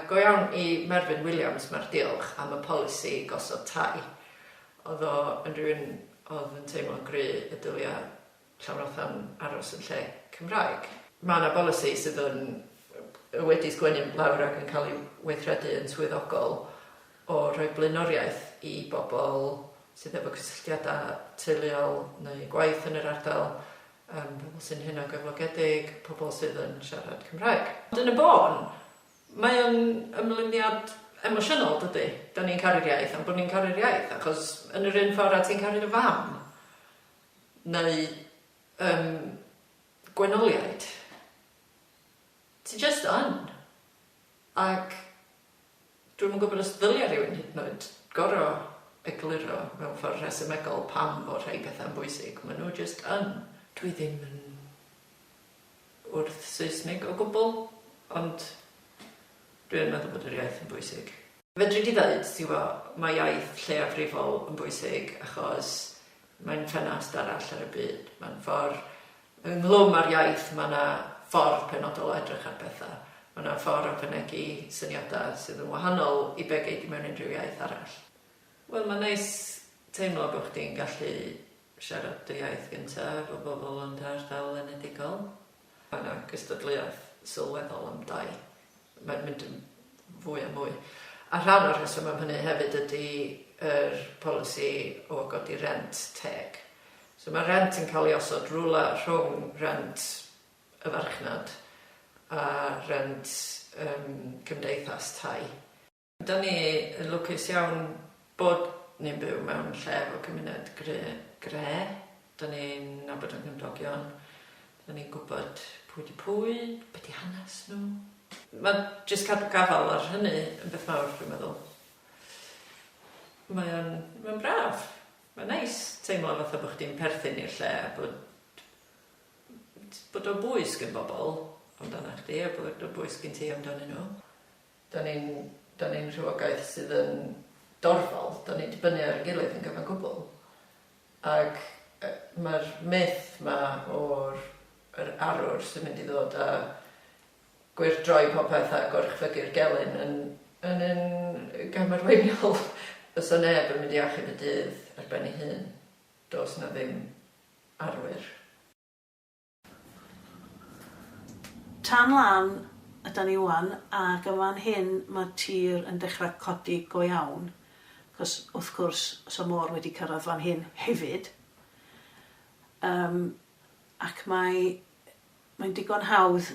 Go iawn i Merfyn Williams, mae'r diolch am y polisi gosod tai. Oedd o yn rhywun oedd yn teimlo'n gry y dylia Llawrothan aros yn lle Cymraeg. Mae yna bolisi sydd yn wedi sgwennu lawr ac yn cael ei weithredu yn swyddogol. o roi blaenoriaeth i bobl sydd efo cysylltiadau teuluol neu gwaith yn yr ardal, yym pobl sy'n hunangyflogedig, pobl sydd yn siarad Cymraeg. Ond yn y bôn, mae o'n ymlyniad emosiynol, dydi? 'Dan ni'n caru'r iaith am bod ni'n caru'r iaith, achos yn yr un ffordd a ti'n caru dy fam, neu yym gwenoliaid, ti jyst yn, ac Dwi'm yn gwybod os ddylia rhywun hyd yn oed gorfod egluro mewn ffordd rhesymegol pam fod rhai pethau'n bwysig, maen nhw jyst yn. Dwi ddim yn wrth Saesnig o gwbl, ond dwi yn meddwl bod yr iaith yn bwysig. Fedri di ddeud, ti 'bo, mae iaith lleiafrifol yn bwysig achos Mae'n ffenast arall ar y byd. Mae'n ffordd, ynghlwm â'r iaith, mae yna ffordd penodol o edrych ar bethau. Mae yna ffordd o fynegi syniadau sydd yn wahanol i be gei di mewn unrhyw iaith arall. Wel, mae'n neis teimlo bod chdi'n gallu siarad dy iaith gyntaf efo bobl yn dy ardal enedigol. Mae yna gystadleuaeth sylweddol am dai. Mae'n mynd yn fwy a mwy. A rhan o'r rheswm am hynny hefyd ydy yr polisi o godi rent teg. So mae rent yn cael ei osod rywle rhwng rent y farchnad a rent yym cymdeithas tai. Da ni yn lwcus iawn bod ni'n byw mewn lle efo cymuned gre. Da ni'n nabod ein cymdogion, da ni'n gwybod pwy 'di pwy, be 'di hanes nhw. Ma' jyst cadw gafael ar hynny yn beth mawr dwi'n meddwl. Mae o'n mae o'n braf. Mae'n neis teimlo fatha bo' chdi'n perthyn i'r lle a bod bod o'n bwys gin bobl amdanach chdi a bod o'n bwys gin ti amdanyn nhw. Dan ni'n, dan ni'n rhywogaeth sydd yn dorfol, dan ni'n dibynnu ar ein gilydd yn gyfan gwbl. Ac mae'r myth 'ma o'r yr arwr sy'n mynd i ddod a gwyrdroi popeth a goruchfygu'r gelyn yn yn un gam arweiniol. Fysa neb yn mynd i achub y dydd ar ben ei hun. Does 'na ddim arwyr.
Tan lan ydan ni ŵan ac yn fan hyn mae'r tir yn dechrau codi go iawn, cos wrth gwrs os y môr wedi cyrraedd fan hyn hefyd yym ac mae mae'n digon hawdd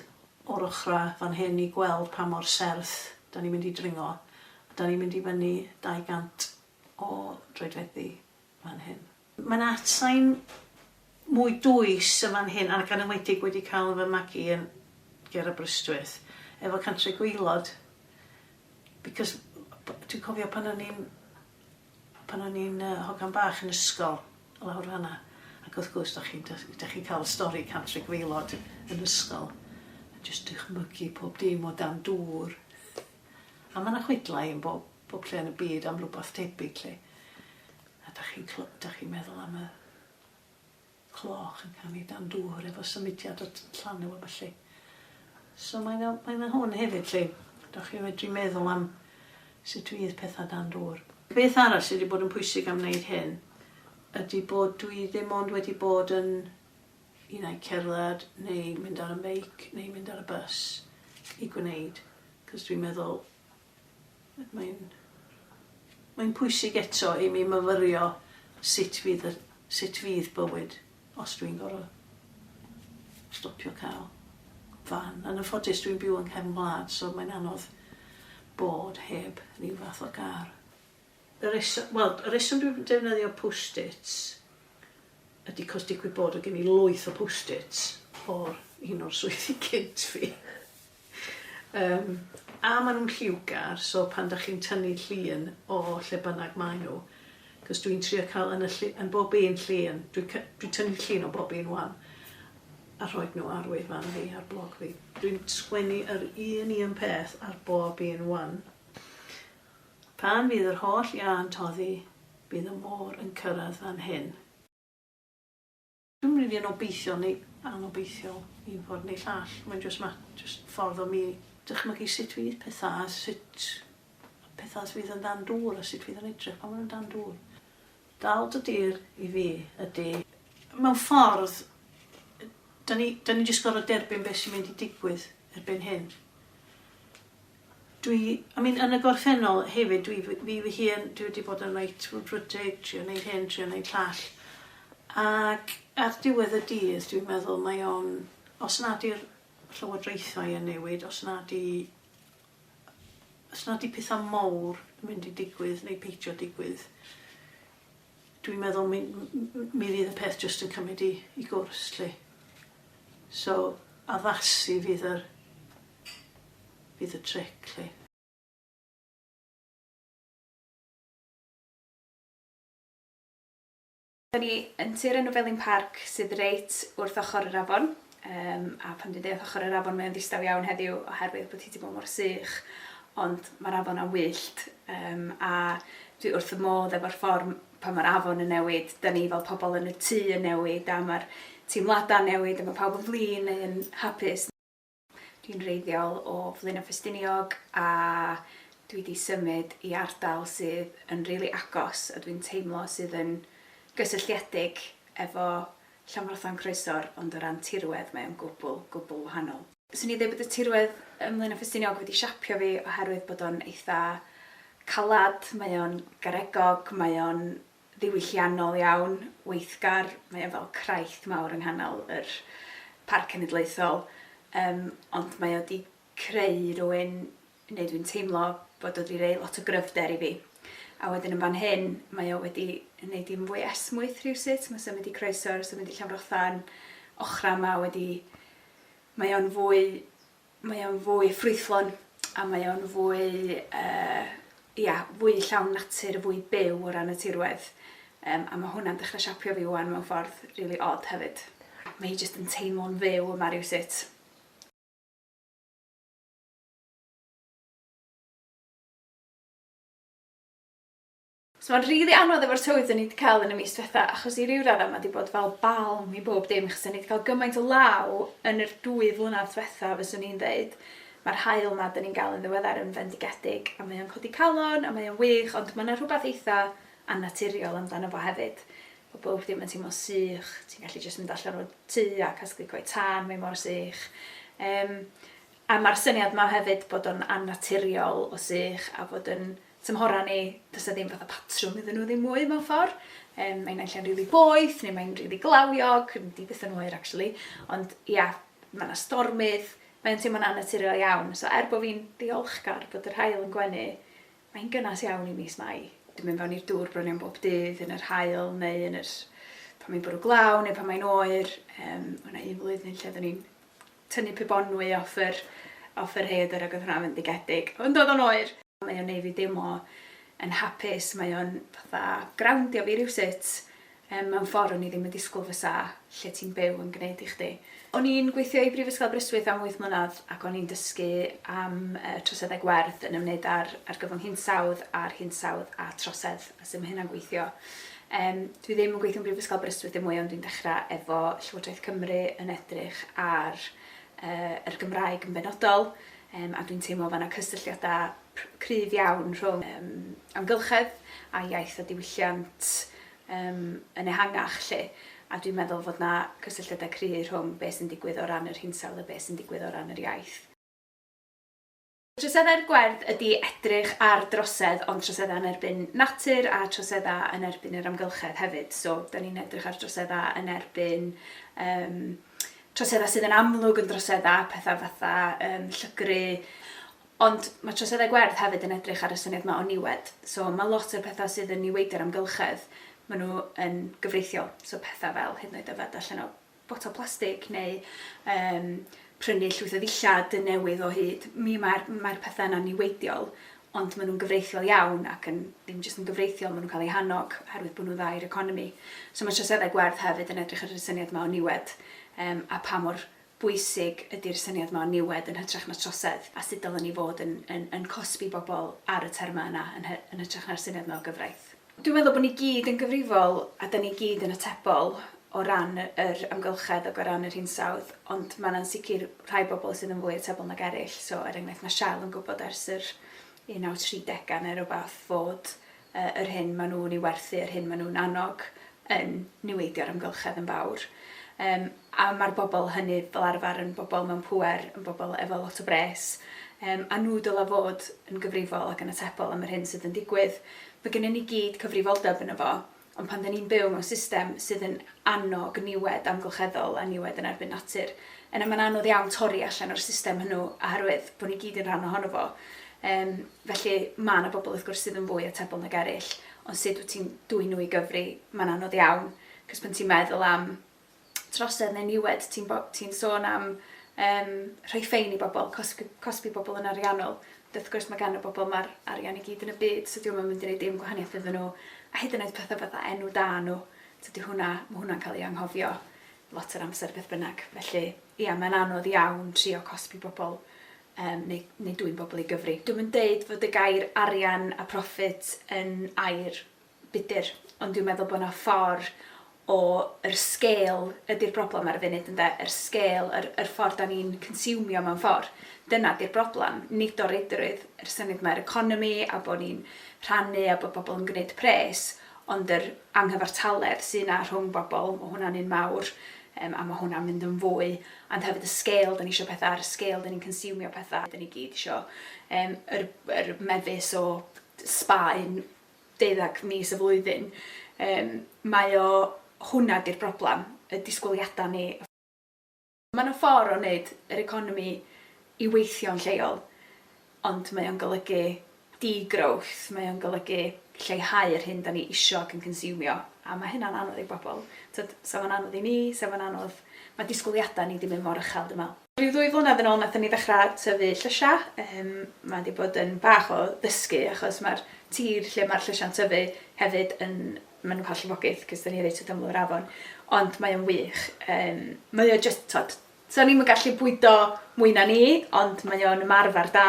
o'r ochrau fan hyn i gweld pa mor serth ydan ni'n mynd i dringo, ydan ni'n mynd i fyny 200 o droedfeddi. fan hyn. Mae 'na atsain mwy dwys yn fan hyn, ac yn enwedig wedi cael fy magu yn ger Aberystwyth, efo Cantre'r Gwaelod, because dwi'n cofio pan o'n i'n pan o'n i'n yy hogan bach yn ysgol, lawr fan 'na, ac wrth gwrs, dach chi'n dach dach chi'n cael y stori Cantre'r Gwaelod yn ysgol, a jyst dychmygu pob dim o dan dŵr, a ma' 'na chwedlau yn bob bob lle yn y byd am rwbath tebyg 'lly. A 'dach chi'n clo- 'dach chi'n meddwl am y cloch yn canu dan dŵr efo symudiad o t- llanw a ballu. So mae 'na mae 'na hwn hefyd 'lly. 'Dach chi'n medru meddwl am sut fydd petha dan dŵr. Beth arall sy' 'di bod yn pwysig am wneud hyn ydi bod dwi ddim ond wedi bod yn un ai cerdded neu mynd ar y meic neu mynd ar y bys i gwneud, 'c'os dwi'n meddwl Mae'n mae'n pwysig eto i mi myfyrio sut fydd y sut fydd bywyd os dwi'n gor'o' stopio ca'l fan. Yn anffodus dwi'n byw yng nghefn gwlad so mae'n anodd bod heb ryw fath o gar. Y reso- wel y reswm dwi'n defnyddio post-its ydi 'c'os digwydd bod o' gen i lwyth o post-its o'r un o'r swyddi cynt fi. Yym, a ma' nw'n lliwgar, so pan 'dach chi'n tynnu llun o lle bynnag mae nw, 'c'os dwi'n trio ca'l yn y llu- yn bob un llun, dwi cy- dwi tynnu llun o bob un ŵan, a rhoid nw ar wefan fi, ar blog fi. Dwi'n sgwennu yr un un peth ar bob un ŵan. Pan fydd yr holl iâ'n toddi, bydd y môr yn cyrradd fan hyn. Dwi'm rili yn obeithiol neu anobeithiol un ffordd neu llall, mae'n jyst ma- jyst ffordd o mi dychmygu sut fydd petha a sut petha fydd yn dan dŵr a sut fydd yn edrych pan ma' nhw'n dan dŵr. Dal dy dir i fi ydi. Mewn ffordd, 'dan ni 'dan ni jyst gorfod derbyn be' sy'n mynd i digwydd erbyn hyn. Dwi, I mean, yn y gorffennol hefyd, dwi fy, fi fy hun, dwi wedi bod yn reit frwdfrydig, trio neud hyn, trio neud llall. Ac ar diwedd y dydd, dwi'n meddwl, mae o'n, os nad i'r llywodraethau yn newid, os nad i, os nad i pethau mowr yn mynd i digwydd neu peidio digwydd, Dwi'n meddwl mi mi fydd y peth jyst yn cymryd i i gwrs 'lly. So addasu fydd yr fydd y tric 'lly.
Da ni yn tir enw Felin Parc sydd reit wrth ochr yr afon. Yym, a pan dwi'n deud wrth ochr yr afon mae o'n ddistaw iawn heddiw oherwydd bod hi 'di bod mor sych, ond mae'r afon am wyllt, yym, a dwi wrth fy modd efo'r ffordd m- pan mae'r afon yn newid, 'dan ni fel pobl yn y tŷ yn newid a mae'r teimladau'n newid a mae pawb yn flin neu'n hapus. Dwi'n wreiddiol o Flaenau Ffestiniog a dwi 'di symud i ardal sydd yn rili agos a dwi'n teimlo sydd yn gysylltiedig efo Llanfrotho'n croesor ond o ran tirwedd mae o'n gwbl, gwbl wahanol. Swn i'n dweud bod y tirwedd ym Mlaenau Ffestiniog wedi siapio fi oherwydd bod o'n eitha' calad, mae o'n garegog, mae o'n ddiwylliannol iawn, weithgar, mae o fel craith mawr yng nghanol yr Parc Cenedlaethol, yym ond mae o 'di creu rywun neu dwi'n teimlo bod o 'di roi lot o gryfder i fi. A wedyn yn fan hyn, mae o wedi 'neud i'n fwy esmwyth rhywsut, ma' symud i Croesor, symud i Llanfrothan, ochra' 'ma wedi... mae o'n fwy... mae o'n fwy ffrwythlon, a mae o'n fwy yy ia, fwy llawn natur, fwy byw o ran y tirwedd. Yym a ma' hwnna'n dechre siapio fi 'wan mewn ffordd rili od hefyd. Mae hi jyst yn teimlo'n fyw yma rywsut. So mae'n rili anodd efo'r tywydd dyn ni 'di cael yn y mis diwetha achos i ryw radda mae 'di bod fel balm i bob dim achos dyn ni 'di cael gymaint o law yn yr dwy flynedd diwetha fyswn i'n dweud. Mae'r haul 'ma dyn ni'n gael yn ddiweddar yn fendigedig a mae o'n codi calon a mae o'n wych ond mae yna rhywbeth eitha annaturiol amdano fo hefyd. Mae bob dim yn teimlo'n sych, ti'n gallu jyst mynd allan o'r tŷ a casglu coed tân, mae mor sych. Um, A ma'r syniad 'ma hefyd bod o'n annaturiol o sych a fod yn tymhora ni, does 'na ddim fatha patrwm iddyn nhw ddim mwy mewn ffor'. Yym mae naill ai'n rili boeth neu mae'n rili glawiog, ddim di byth yn oer actually, ond ia, ma' 'na stormydd, mae o'n teimlo'n annaturiol iawn. So er bo' fi'n ddiolchgar bod yr haul yn gwenu, mae'n gynnes iawn i mis Mai. Dwi'n mynd fewn i'r dŵr bron iawn bob dydd yn yr haul neu yn yr pan mae'n bwrw glaw neu pan mae'n oer. Yym o' 'na un flwyddyn lle oeddwn i'n tynnu pibonwy off yr off yr rhaeadr ag oedd hwnna'n fendigedig. Ond oedd o'n oer! Mae o'n neu' fi deimlo yn hapus, mae o'n fatha growndio fi rywsut yym mewn ffor o'n i ddim yn disgwl fysa lle ti'n byw yn gneud i chdi. O'n i'n gweithio i Brifysgol Aberystwyth am wyth mlynadd ac o'n i'n dysgu am yy troseddau gwerth yn ymwneud â'r argyfwng hinsawdd a'r hinsawdd a trosedd. A sut mae hynna'n gweithio? Yym, dwi ddim yn gweithio yn Brifysgol Aberystwyth dim mwy ond dwi'n dechrau efo Llywodraeth Cymru yn edrych ar yy yr Gymraeg yn benodol yym a dwi'n teimlo fana cysylltiadau cryf iawn rhwng yym amgylchedd a iaith a diwylliant yym yn ehangach 'lly a dwi'n meddwl fod 'na cysylltiadau cry' rhwng be' sy'n digwydd o ran yr hinsawdd a be' sy'n digwydd o ran yr iaith. Troseddau'r gwerth ydy edrych ar drosedd ond troseddau yn erbyn natur a troseddau yn erbyn yr amgylchedd hefyd. So, dan ni'n edrych ar droseddau yn erbyn yym troseddau sydd yn amlwg yn droseddau, pethau fatha yym llygru, ond mae troseddau gwerth hefyd yn edrych ar y syniad yma o niwed. So, mae lot o'r pethau sydd yn niweidio'r amgylchedd, maen nhw yn gyfreithiol, so pethau fel hyd yn oed yfed allan o botel plastig neu yym prynu llwyth o ddillad newydd o hyd. Mi mae'r mae'r pethe yna'n niweidiol ond ma' nhw'n gyfreithiol iawn ac yn ddim jyst yn gyfreithiol ma' nhw'n cael eu hannog oherwydd bod nhw'n dda i'r economi. So ma' troseddau gwerth hefyd yn edrych ar yr syniad ma' o niwed yym a pa mor bwysig ydi'r syniad ma' o niwed yn hytrach na trosedd a sut dylen ni fod yn yn yn cosbi bobl ar y terma yna yn hy- yn hytrach na'r syniad ma' o gyfraith. Dwi'n meddwl bod ni gyd yn gyfrifol a 'da ni gyd yn atebol o ran yr amgylchedd ac o ran yr hinsawdd, ond mae 'na'n sicr rhai bobl sydd yn fwy atebol nag eraill. So, er enghraifft, mae Shell yn gwybod ers yr 1930au neu rywbeth fod yy yr hyn maen nhw'n ei werthu, yr hyn maen nhw'n annog, yn niweidio'r amgylchedd yn fawr. Yym, a mae'r bobl hynny fel arfer yn bobl mewn pŵer, yn bobl efo lot o bres, yym, a nhw dylai fod yn gyfrifol ac yn atebol am yr hyn sydd yn digwydd. Mae gennyn ni gyd cyfrifoldeb yno fo, ond pan 'da ni'n byw mewn system sydd yn annog niwed amgylcheddol a niwed yn erbyn natur, yna mae'n anodd iawn torri allan o'r system hwnnw oherwydd bod ni gyd yn rhan ohono fo. Yym, felly, mae 'na bobl wrth gwrs sydd yn fwy atebol nag eraill, ond sut wyt ti'n dwyn nhw i gyfri? Mae'n anodd iawn, 'c'os pan ti'n meddwl am trosedd neu niwed, ti'n bo- ti'n sôn am yym rhoi ffein i bobl, cosbi cosbi pobl yn ariannol, ond wrth gwrs ma' gan y bobl 'ma'r arian i gyd yn y byd, so 'di o'm yn mynd i neud dim gwahaniaeth iddyn nhw, a hyd yn oed pethe fatha enw da nhw, tydi hwnna, ma' hwnna'n ca'l ei anghofio lot o'r amser beth bynnag, felly ia mae'n anodd iawn trio cosbi bobl yym neu neu dwyn bobl i gyfri'. Dwi'm yn deud fod y gair arian a profit yn air budr, ond dwi'n meddwl bod yna ffordd o... yr sgêl ydy'r broblem ar y funud ynde? Yr sgêl, yr yr ffordd 'da ni'n consiwmio mewn ffordd, dyna 'di'r broblem, nid o reidrwydd, yr syniad yma o'r economi a bod ni'n rhannu a bod pobl yn gwneud pres, ond yr anghyfartaledd sy' 'na rhwng bobl, ma' hwnna'n un mawr, yym a ma' hwnna'n mynd yn fwy, ond hefyd y sgêl 'da ni isio petha', a'r sgêl 'da ni'n consiwmio petha', 'da ni gyd isio yym yr yr mefus o Sbaen, deuddeg mis y flwyddyn, yym, mae o, hwnna 'di'r broblem, y disgwyliadau ni. Mae 'na ffordd o wneud yr economi i weithio'n lleol, ond mae o'n golygu de-growth, mae o'n golygu lleihau yr hyn 'dan ni isio ac yn consiwmio, a ma' hynna'n anodd i bobl. Tibod, 'sa fo'n anodd i ni, 'sa fo'n anodd... Mae disgwyliadau ni 'di mynd mor uchel, dwi'n meddwl. Rhyw ddwy flynedd yn ôl nathon ni ddechra tyfu llysha, yym ma' 'di bod yn bach o ddysgu achos ma'r tir lle ma'r llysha'n tyfu hefyd yn ma' nw'n ca'l llifogydd 'c'os 'da ni reit wrth ymyl yr afon ond mae o'n wych yym mae o jyst t'od so ni'm yn gallu bwydo mwy na ni ond mae o'n ymarfer da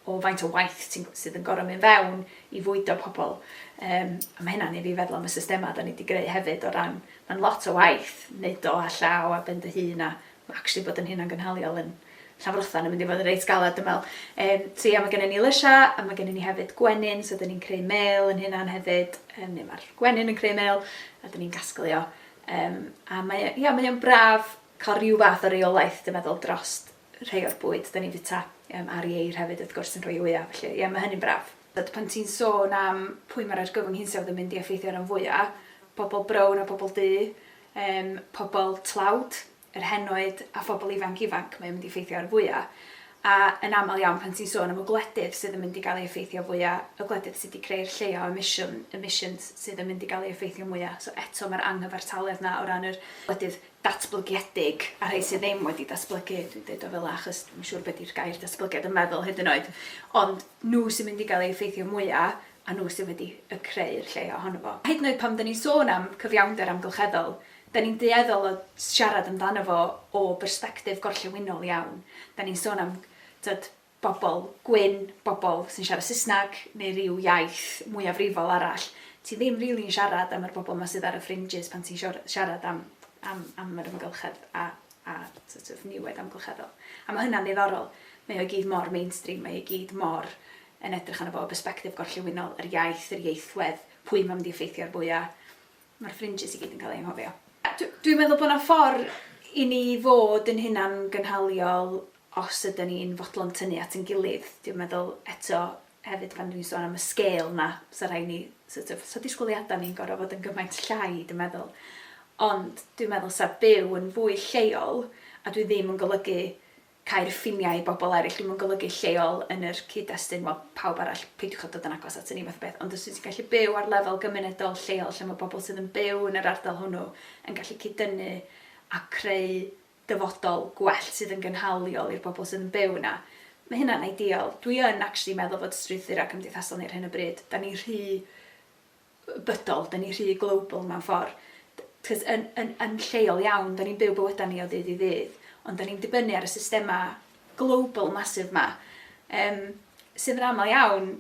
o faint o waith ti'n g- sydd yn gor'o' myn' fewn i fwydo pobol yym a ma' hynna'n neu' fi feddwl am y systema 'da ni 'di greu hefyd o ran ma'n lot o waith neud o â llaw a ben dy hun a Mae actually bod yn hunangynhaliol yn Llanfrothan yn mynd i fod yn reit galed dwi'n meddwl. Yym so ia mae gennym ni lysiau a mae gennym ni hefyd gwenyn so dan ni'n creu mêl ein hunan hefyd yym neu mae'r gwenyn yn creu mêl a dan ni'n gasglu o yym a mae o ia mae o'n braf cael rhyw fath o reolaeth dwi'n meddwl drost rhai o'r bwyd dan ni'n fwyta yym a'r ieir hefyd wrth gwrs yn rhoi ŵyau felly ia mae hynny'n braf. Tibod pan ti'n sôn am pwy mae'r argyfwng hinsawdd yn mynd i effeithio ran fwyaf, pobl brown a pobl du Yym, pobl tlawd, yr henoed a phobl ifanc ifanc mae o'n mynd i effeithio ar fwya', a yn aml iawn pan ti'n sôn am y gwledydd sydd yn mynd i gael ei effeithio fwya', y gwledydd sy' 'di creu'r lleia' o emisiwn, emissions, sydd yn mynd i gael ei effeithio mwya'. So eto ma'r anghyfartaledd 'na o ran yr gwledydd datblygiedig a rhei sydd ddim wedi datblygu, dwi'n deud o fela achos dwi'm yn siŵr be' 'di'r gair datblygiad yn meddwl hyd yn oed, ond nhw sy'n mynd i gael ei effeithio mwya', a nhw sydd wedi y creu'r lle ohono fo. Hyd yn oed pan 'da ni'n sôn am cyfiawnder amgylcheddol, 'da ni'n dueddol o siarad amdano fo o bersbectif gorllewinol iawn. 'Da ni'n sôn am, tibod, bobl gwyn, bobl sy'n siarad Saesneg neu ryw iaith mwyafrifol arall. Ti ddim rili yn siarad am yr bobl 'ma sydd ar y fringes pan ti'n siarad am yr amgylchedd a a sort of niwed amgylcheddol. A mae hynna'n ddiddorol. Mae o i gyd mor mainstream, mae o i gyd mor yn edrych arno fo o bersbectif gorllewinol, yr iaith, yr ieithwedd, pwy mae'n mynd i effeithio'r fwya'. Mae'r fringes i gyd yn cael eu anghofio. Dwi'n meddwl bod 'na ffordd i ni fod yn hunan-gynhaliol os ydan ni'n fodlon tynnu at ein gilydd. Dwi'n meddwl, eto, Hefyd pan 'dyn ni'n sôn am y sgêl 'ma, 'sa rhaid ni sort of, 'sa disgwyliadau ni'n gorfod bod yn gymaint llai dwi'n meddwl. Ond dwi'n meddwl 'sa byw yn fwy lleol, a dwi ddim yn golygu cau'r ffiniau i bobl eraill, dwi'm yn golygu lleol yn yr cyd-destun, wel, pawb arall, peidiwch â dod yn agos aton ni fath o beth, ond os wyt ti'n gallu byw ar lefel gymunedol lleol lle mae pobl sydd yn byw yn yr ardal hwnnw yn gallu cyd-dynnu a creu dyfodol gwell sydd yn gynhaliol i'r bobl sydd yn byw yna. Mae hynna'n ideal. Dwi yn actually meddwl fod strwythurau cymdeithasol ni ar hyn o bryd, da ni rhy bydol, da ni rhy global mewn ffordd. Cos yn, yn, yn lleol iawn, da ni'n byw bywydau ni o ddydd i ddydd, ond da ni'n dibynnu ar y systemau global masif yma, um, sydd yn aml iawn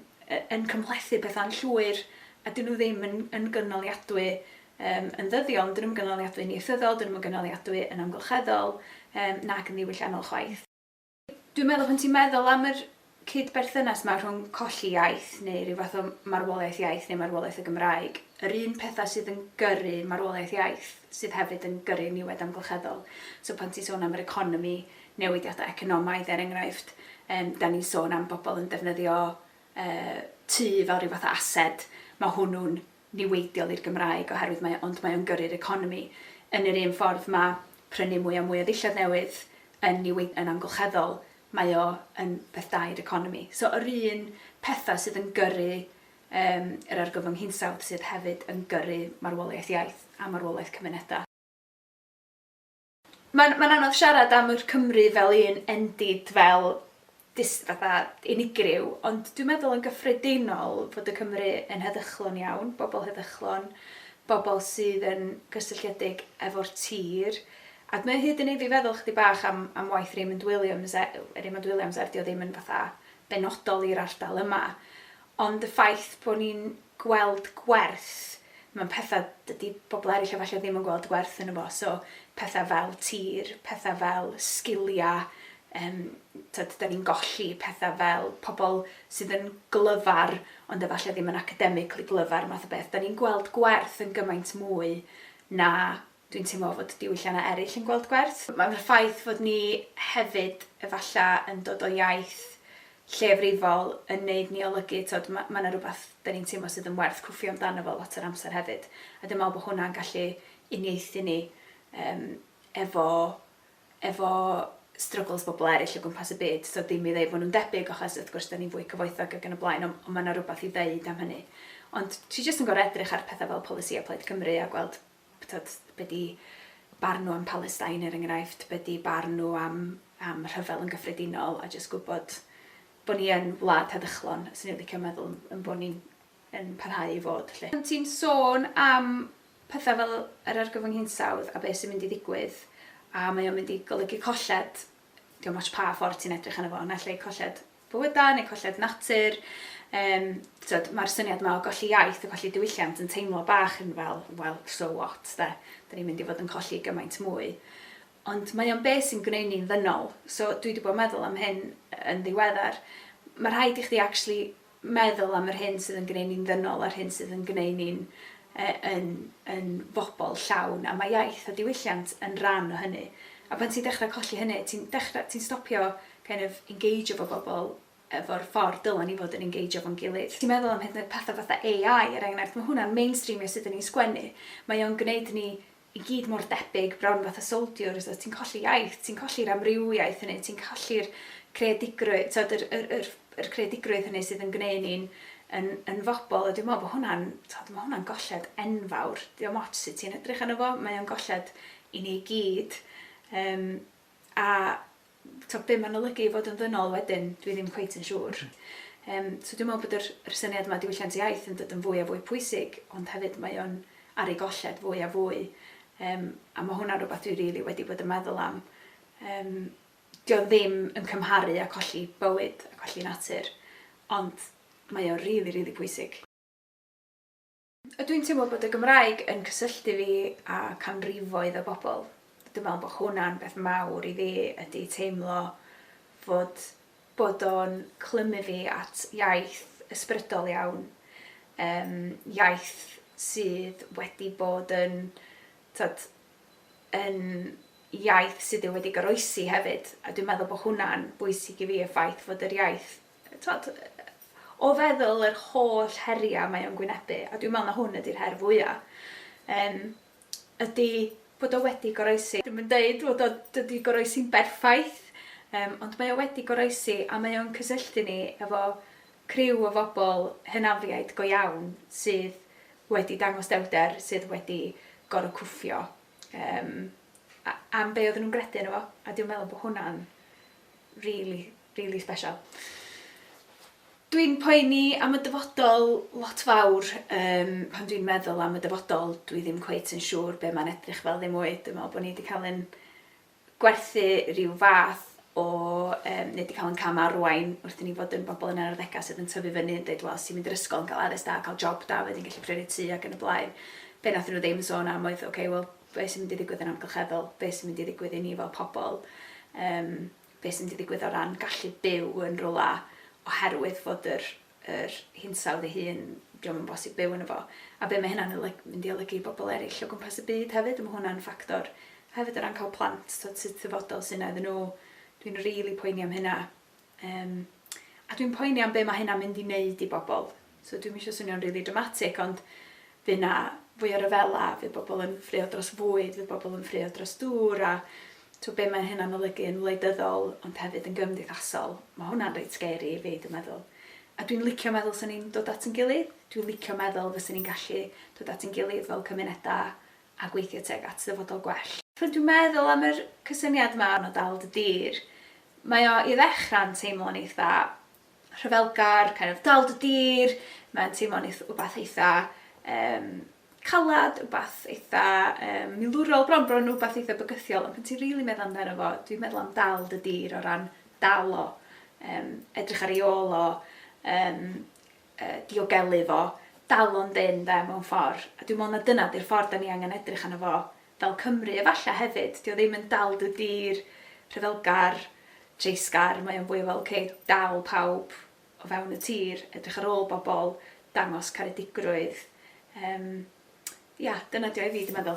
yn cymhlethu pethau'n llwyr a dyn nhw ddim yn, yn gynaliadwy Yym, yn ddyddiol, dyn nhw'm yn gynaliadwy'n ieithyddol, dyn nhw'm yn gynaliadwy yn amgylcheddol, yym, nac yn ddiwylliannol chwaith. Dwi'n meddwl pan ti'n meddwl am yr cyd-berthynas 'ma rhwng colli iaith, neu ryw fath o marwolaeth iaith, neu marwolaeth y Gymraeg, yr un petha sydd yn gyrru marwolaeth iaith sydd hefyd yn gyrru niwed amgylcheddol. So pan ti'n sôn am yr economi, newidiadau economaidd er enghraifft, yym, 'dan ni'n sôn am bobl yn defnyddio yy tŷ fel ryw fath o ased, ma' hwnnw'n niweidiol i'r Gymraeg oherwydd mae o, ond mae o'n gyrru'r economi yn yr un ffordd. Ma' prynu mwy a mwy o ddillad newydd yn niwei-, yn amgylcheddol, mae o yn beth da i'r economi. So yr un petha sydd yn gyrru yym yr argyfwng hinsawdd sydd hefyd yn gyrru marwolaeth iaith a marwolaeth cymuneda. Mae'n mae'n anodd siarad am yr Cymry fel un endid, fel dis- fatha unigryw, ond dwi'n meddwl yn gyffredinol fod y Cymry yn heddychlon iawn, bobl heddychlon, bobl sydd yn gysylltiedig efo'r tir, ac mae o hyd yn neud fi feddwl chydig bach am am waith Raymond Williams e- Raymond Williams er 'di o ddim yn fatha benodol i'r ardal yma, Ond y ffaith bod ni'n gweld gwerth mewn petha dydy pobl eraill efallai ddim yn gweld gwerth yno fo, so petha fel tir, petha fel sgilia, yym t'od 'dan ni'n golli petha fel pobl sydd yn glyfar ond efallai ddim yn academically glyfar math o beth, 'dan ni'n gweld gwerth yn gymaint mwy na Dwi'n teimlo fod diwylliannau eraill yn gweld gwerth. Mae'r ffaith fod ni hefyd efallai yn dod o iaith lleiafrifol yn neud ni olygu, tibod, ma- ma' 'na rywbeth 'dan ni'n teimlo sydd yn werth cwffio amdano fo lot o'r amser hefyd. A dwi'n meddwl bod hwnna'n gallu uniaethu ni yym efo efo struggles bobl eraill o gwmpas y byd. Tibod, ddim i ddeud fod nhw'n debyg achos wrth gwrs 'dan ni'n fwy cyfoethog ac yn y blaen, ond ond ma' 'na rywbeth i ddeud am hynny. Ond dwi jyst yn gorfod edrych ar petha fel polisïau Plaid Cymru a gweld Tibod, be 'di barn nhw am Palestine, er enghraifft, be 'di barn nhw am am rhyfel yn gyffredinol, a jyst gwybod bo' ni yn wlad heddychlon, 'swn i'n licio meddwl, yn bo' ni'n yn parhau i fod, 'lly. Pan ti'n sôn am petha fel yr argyfwng hinsawdd a be' sy'n mynd i ddigwydd, a mae o'n mynd i golygu colled, 'di o'm ots pa ffordd ti'n edrych arno fo, naill ai colled bywydau neu colled natur. Yym, tibod, mae'r syniad yma o golli iaith a colli diwylliant yn teimlo bach yn fel, wel, so what, de? Da ni'n mynd i fod yn colli gymaint mwy. Ond mae o'n beth sy'n gwneud ni'n ddynol. So dwi wedi bod yn meddwl am hyn yn ddiweddar. Mae rhaid i chdi actually meddwl am yr hyn sydd yn gwneud ni'n ddynol a'r hyn sydd yn gwneud ni'n e, yn, yn fobl llawn. A mae iaith a diwylliant yn rhan o hynny. A pan ti'n dechrau colli hynny, ti'n ti stopio kind of engeijio efo bobl efo'r ffordd dylen ni fod yn engeijio efo'n gilydd. Os ti'n meddwl am hyd yn oed pethau fatha AI, er enghraifft, mae hwnna'n mainstreamio sut 'da ni'n sgwennu. Mae o'n gwneud ni i gyd mor debyg, bron fatha soldiers, a ti'n colli iaith, ti'n colli'r amrywiaeth hynny, ti'n colli'r creadigrwydd, tibod, yr, yr, yr, yr creadigrwydd hynny sydd yn gwneud ni'n yn, yn fobl, a dwi'n meddwl bod hwnna'n, tibod, mae hwnna'n golled enfawr. Diolch ots sut ti'n edrych arno fo, mae o'n golled i ni gyd. Um, a Tibod, be mae'n olygu i fod yn ddynol wedyn, dwi ddim cweit yn siŵr. Yym, so dwi'n meddwl bod yr, yr syniad yma diwylliant iaith yn dod yn fwy a fwy pwysig, ond hefyd mae o'n ar ei golled fwy a fwy. Um, a mae hwnna'n rhywbeth dwi rili really wedi bod yn meddwl am. Um, dio ddim yn cymharu a colli bywyd a colli natur, ond mae o'n rili, really, rili really pwysig. A dwi'n teimlo bod y Gymraeg yn cysylltu fi â canrifoedd o bobl. Dwi'n meddwl bod hwnna'n beth mawr i fi, ydy teimlo fod bod o'n clymu fi at iaith ysbrydol iawn, yym iaith sydd wedi bod yn t'od yn iaith sydd wedi goroesi hefyd, a dwi'n meddwl bod hwnna'n bwysig i fi, y ffaith fod yr iaith Tibod, o feddwl yr holl heriau mae o'n gwynebu, a dwi'n meddwl na hwn ydy'r her fwya', yym, ydy bod o wedi goroesi. Dwi'm yn deud fod o, dydi goroesi'n berffaith, yym, ond mae o wedi goroesi a mae o'n cysylltu ni efo criw o fobl hynafiaid go iawn sydd wedi dangos dewrder, sydd wedi gorfod cwffio, yym, a- am be' oedden nhw'n gredu yno fo, a dwi'n meddwl bod hwnna'n rili, rili sbeshal. Dwi'n poeni am y dyfodol lot fawr, um, pan dwi'n meddwl am y dyfodol, dwi ddim cweit yn siŵr be mae'n edrych fel ddim mwy. Dwi'n meddwl bod ni wedi cael yn gwerthu rhyw fath o, um, neu wedi cael yn cam arwain wrth i ni fod yn bobl yn yr arddegau sydd yn tyfu fyny yn dweud, wel, sy'n mynd i'r ysgol yn cael addysg da, cael job da, wedyn gallu prynu tu ac yn y blaen. Be nath nhw ddim yn sôn am oedd, oce, okay, wel, be sy'n mynd i ddigwydd yn amgylcheddol, be sy'n mynd i ddigwydd i ni fel pobl, um, be sy'n mynd i ddigwydd o ran gallu byw yn rhywle oherwydd fod yr, yr hinsawdd ei hun, diolch yn bosib byw yn efo. A be mae hynna'n mynd i olygu i bobl eraill o gwmpas y byd hefyd, mae hwnna'n ffactor. Hefyd o ran cael plant, sut sydd thyfodol sy'n iddyn nhw, dwi'n rili really poeni am hynna. Yym, a dwi'n poeni am be mae hynna'n mynd i wneud i bobl. So dwi'm eisiau swnio'n rili dramatic, ond fydd 'na fwy o ryfela, fydd bobl yn ffraeo dros fwyd, fydd bobl yn ffraeo dros dŵr, a tibod be mae hynna'n olygu yn wleidyddol, ond hefyd yn gymdeithasol. Mae hwnna'n reit scary i fi, dwi'n meddwl. A dwi'n licio meddwl 'sen ni'n dod at ein gilydd. Dwi'n licio meddwl fysen ni'n gallu dod at ein gilydd fel cymunedau a gweithio tuag at ddyfodol gwell. Pan dwi'n meddwl am yr cysyniad 'ma o dal dy dir, mae o i ddechrau'n teimlo'n eitha' rhyfelgar, kind of dal dy dir, mae'n teimlo'n eith- wbath eitha' yym calad, wbath eitha' yym milwrol, bron bron yn wbath eitha' bygythiol, ond pan ti'n rili meddwl amdano fo, dwi'n meddwl am dal dy dir o ran dal o, yym edrych ar ei ôl o, yym diogelu fo, dal o'n dynn 'de, mewn ffor'. A dwi'n me'wl na dyna 'di'r ffor' 'dan ni angen edrych arno fo fel Cymru, efalle hefyd, 'di o ddim yn dal dy dir, rhyfelgar, dreisgar, mae o'n fwy o fel ok, dal pawb o fewn y tir, edrych ar ôl bobol, dangos caredigrwydd. Yym ia, dyna 'di o i fi, dwi meddwl.